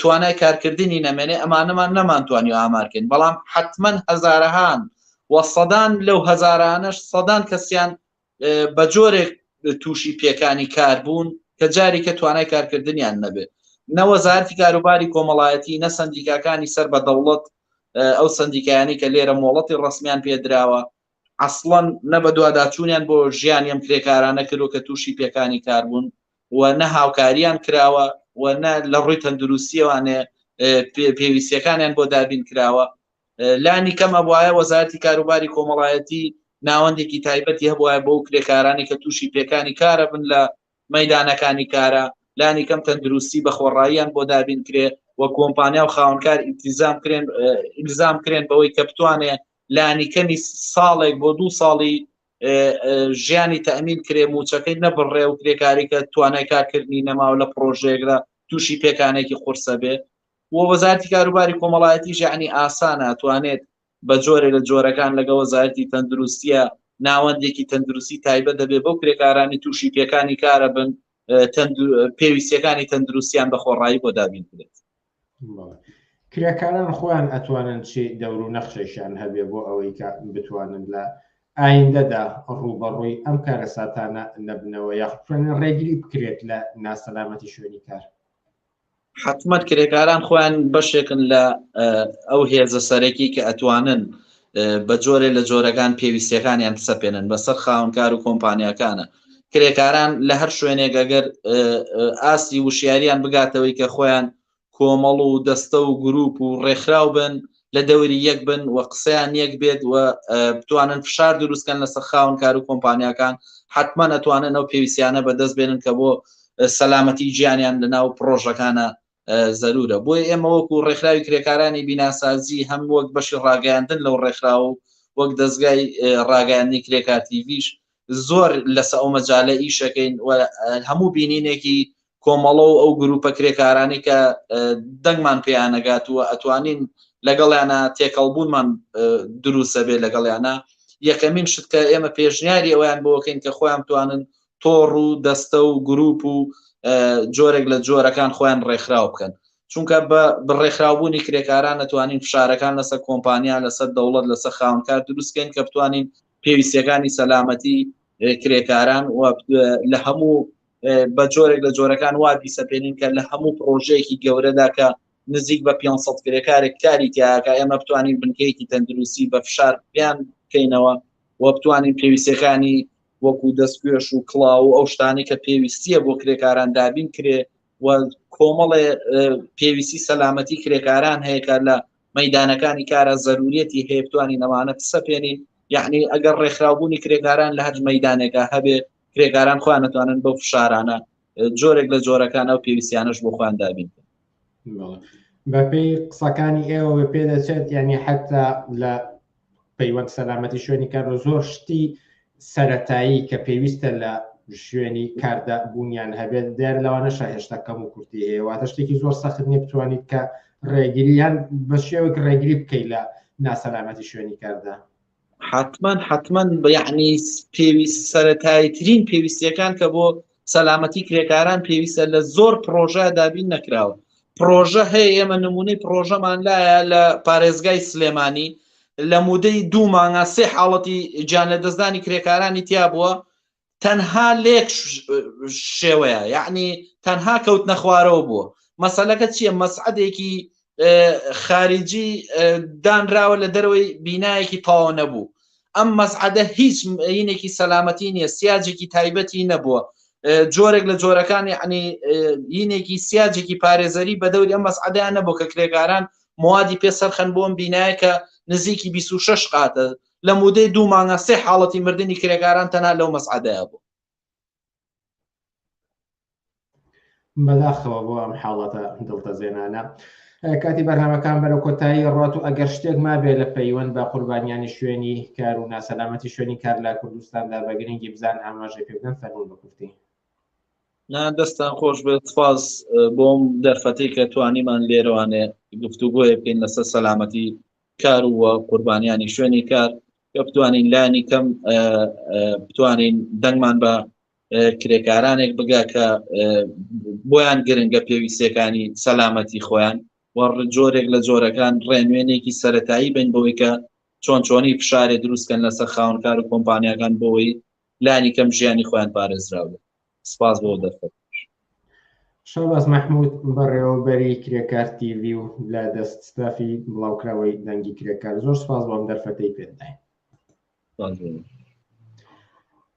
توانای کارکردنی نەمێنێ ئەمانەمان نەمانتوانی ئامارکەین بەڵام حتمەن هەزارەهان و سەدان لەو هەزارانەش سەدان کەسیان بە جۆرێک تووشی پێکانی کار بوون کە جاری کە توانای کارکردنیان نەبێت نەوەزارتی کاروباری کۆمەڵایەتی نە سندیکاکانی سەر بە دەوڵەت ئەو سندیکایانی کە لێرە مۆڵەتی ڕسمیان پێدراوە ئەسڵەن نە بەدواداچوونیان بۆ ژیانی ئەم کرێکارانە کردووە کە تووشی پێکانی کار بوون و نە هاوکارییان کراوە و نە لە ڕووی تەندرووستییەوانێ پێویستیەکانیان بۆ دابین کراوە لانی کەم ئەبواە وەزارەتی کاروباری کۆمەڵایەتی ناوەندێکی تایبەتی هەبواە بۆ کرێکارانی کە تووشی پێکانی کارە بن لە مەدانەکانی کارە لانی کەم تەندروستی بە خۆڕاییان بۆ دابین کرێ و کۆمپانیا و خاونکار ئیتیزام کرێن ئیلزام کرێن بەوەی کە بتوانێ لانیکەمی ساڵێک بۆ دوو ساڵی ژیانی تەمین کرێ موچەکەی نەبڕێ و کرێکاری کە توانای کارکردنی نەماو لە پرۆژێکدا تووشی پێکانێکی قورسە بێ و وەزارتی کاروباری کۆمەڵایەتی ژانی ئاسانە توانێت بە جۆرێ لە جۆرەکان لەگە وەزارتی تەندروستیە ناوەندێکی تەندروستی تایبەت دەبێ بەو کرێکارانی تووشی پێکانی کارە بن پێویستەکانی تەندروستیان بە خۆڕایی بۆ دابین کرێت کرێکاران خۆیان ئەتوانن چی دەور و نەخشێکیان هەبێ بۆ ئەوەی کە بتوانن لە ئایندەدا ڕووبەڕووی ئەم کارە ساتانە نەبنەوە یاخوێن ڕێگری بکرێت لە ناسەلامەتی شوێنی کار حکومت کرێکاران خۆیان بەشێکن لە ئەو هێزە سەرەکی کە ئەتوانن بە جۆرێ لە جۆرەکان پێویستەکانیان سەپێنن بەسەر خاونکار و کۆمپانیەکانە کرێکاران لە هەر شوێنێک ئەگەر ئاستی وشیاریان بگاتەوەی کە خۆیان کۆمەڵ و دەستە و گروپ و ڕێکخراو بن لە دەوری یەک بن و قسەیان یەک بێت و بتوانن فشار دروستکەن لە سەرخاون کار و کۆمپانیاکان حتمما ئەتوانن ئەو پێویستیانە بەدەست بێنن کە بۆ سەلامەتی گیانیان لەناو پرۆژەکانە زەروورە، بۆیە ئێمە وەکو ڕێکخراوی کرێکارانی بیناسازی هەم وەک بەشی ڕاگەیاندن لەو ڕێکخراوە و وەک دەزگای ڕاگەیاندنی کرێکار تیڤیش زۆر لەسە ئەو مەجالە ئیشەکەین و هەموو بینینێکی کۆمەڵە و ئەو گروپە کرێکارانی کە دەنگمان پێیانەگات و ئەتوانین لەگەڵیانە تێکەڵبوونمان دروستە بێ لەگەڵیانە یەکەمین شت کە ئێمە پێشنیاری ئەویان بۆکەین کە خۆیان توانن تۆڕ و دەستە و گروپ و جۆرێک لە جۆرەکان خۆیان ڕێکخراو بکەن چونکە بە بڕێکخراوبوونی کرێکاران نتوانین فشارەکان لەسەر کۆمپانیا لەسەر دەوڵەت لەسەر خاونکار دروستکەین کە بتوانین پێویستەکانی سەلامەتی کرێکاران و لە هەموو بە جۆرێک لە جۆرەکان وا بیسەپێنین کە لە هەموو پرۆژەیەکی گەورەدا کە نزیک بە 500 کرێکارێک کاری تیاکە ئێمە بتوانین بنکەیەکی تەندروستی بە فشار بیان بکەینەوە و بتوانین پێویستەکانی وەکو دەستکوێش و کڵاو و ئەو شتانی کە پێویستیە بۆ کرێکاران دابین کرێ و کۆمەڵێ پێویستی سەلامەتی کرێکاران هەیەکە لە مەدانەکانی کارە زەروریەتی هەیەتوانی نەوانە سەپێنین یعنی ئەگەر ڕێکخراوبوونی کرێکاران لە هەر مەدانێکە هەبێ کرێکاران خۆیان نتوانن بەو فشارانە جۆرێک لە جۆرەکان ئەو پێویستیانش بۆ خۆیان دابین بەپێی قسەکانی ئێوە بە پێ دەچێت یعنی حتا لە پەیوەند سەلامەتی شوێنی کارۆ زۆر شتی سەتایی کە پێویستە لە شوێنی کاردا بوونیان هەبێت دیار لەوانەشە هێشتا کەم و کورتی هەیە واتە شتێکی زۆر سەخت نیە بتوانیت کە ڕێگریان بە شێوەک ڕێگری بکەیت لە ناسەلامەتی شوێنی کاردا حتمما حتمما یعنی پێویست سەتایترین پێویستیەکان کە بۆ سەلامەتی کرێکاران پێویستە لە زۆر پرۆژە دابین نەکراوە پرۆژە هەیە ئێمە نمونەی پرۆژەمان لایە لە پارێزگای سلێمانی لە مودەی دوو مانگا سێ حاڵەتی گیان لە دەستدانی کرێکارانی تیا بووە تەنها لێک شێوەیە یعنی تەنها کەوت نەخوارەوە بووە مەسەلەکە چییە مەسعدێکی خارجی دانراوە لە دەرەوەی بینایەکی تاوە نەبوو ئەم مەسعدە هیچ مینێکی سەلامەتی نییە سیاجێکی تایبەتی نەبووە جۆرێک لە جۆرەکانی عنی یینێکی سیاجێکی پارێزەری بە دەوری ئەم مەسعدیان نەبوو کە کرێکاران موادی پێ سەرخەن بۆم بینایە کە نزیکی 26 قاتە لە مودەی دوو مانگە سێ حاڵەتی مردنی کرێکاران تەنها لەو مەسعەدەیە بوو بەداخەوە بۆ ئەم حاڵەتە دڵتەزێنانە. کاتی بەرنامەکان بەرە کۆتایی ڕات و ئەگەر شتێک مابێ لە پەیوەند بە قوربانیانی شوێنی کار و ناسەلامەتی شوێنی کار لە کوردستاندا بە گرنگی بزان ئاماژەی پێبدەن فەرمون بکوفتی دەستان خۆش بێت فاز بۆم دەرفەتی کە توانیمان لێرەوانێ گفتوگۆیە بکەین لەسەر سەلامەتی کار و قوربانیانی شوێنی کار کە بتوانین لانی کەم بتوانین دەنگمان بە کرێکارانێک بگا کە بۆیان گرنگە پێویستەکانی سەلامەتی خۆیان و جۆرێک لە جۆرەکان ڕێنوێنێکی سەتایی بن بۆی کە چۆن چۆنی فشارێ دروستکەن لەسەر خاونکار و کۆمپانیاکان بۆی لانی کەم ژیانی خۆیان پارێزراوە سپاس بۆ دەرفەت شەواز مەحمود بەڕێوەبەری کرێکار تیوی و لە دەست ستافی بڵاوکراوەی دەنگی کرێکار زۆر سپاس بۆم دەرفەتەی پێداین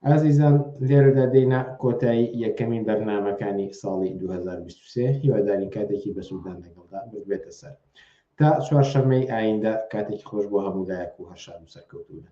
ئازیزان لێرەدا دێنا کۆتایی یەکەمین بەرنمەکانی ساڵی 2023 هیواداری کاتێکی بەسوودان لەگەڵدا بێتە سەر تا چوارشەمەی ئایندە کاتێکی خۆش بۆ هەموو لایەک و هەرشان و سەرکەوتوونە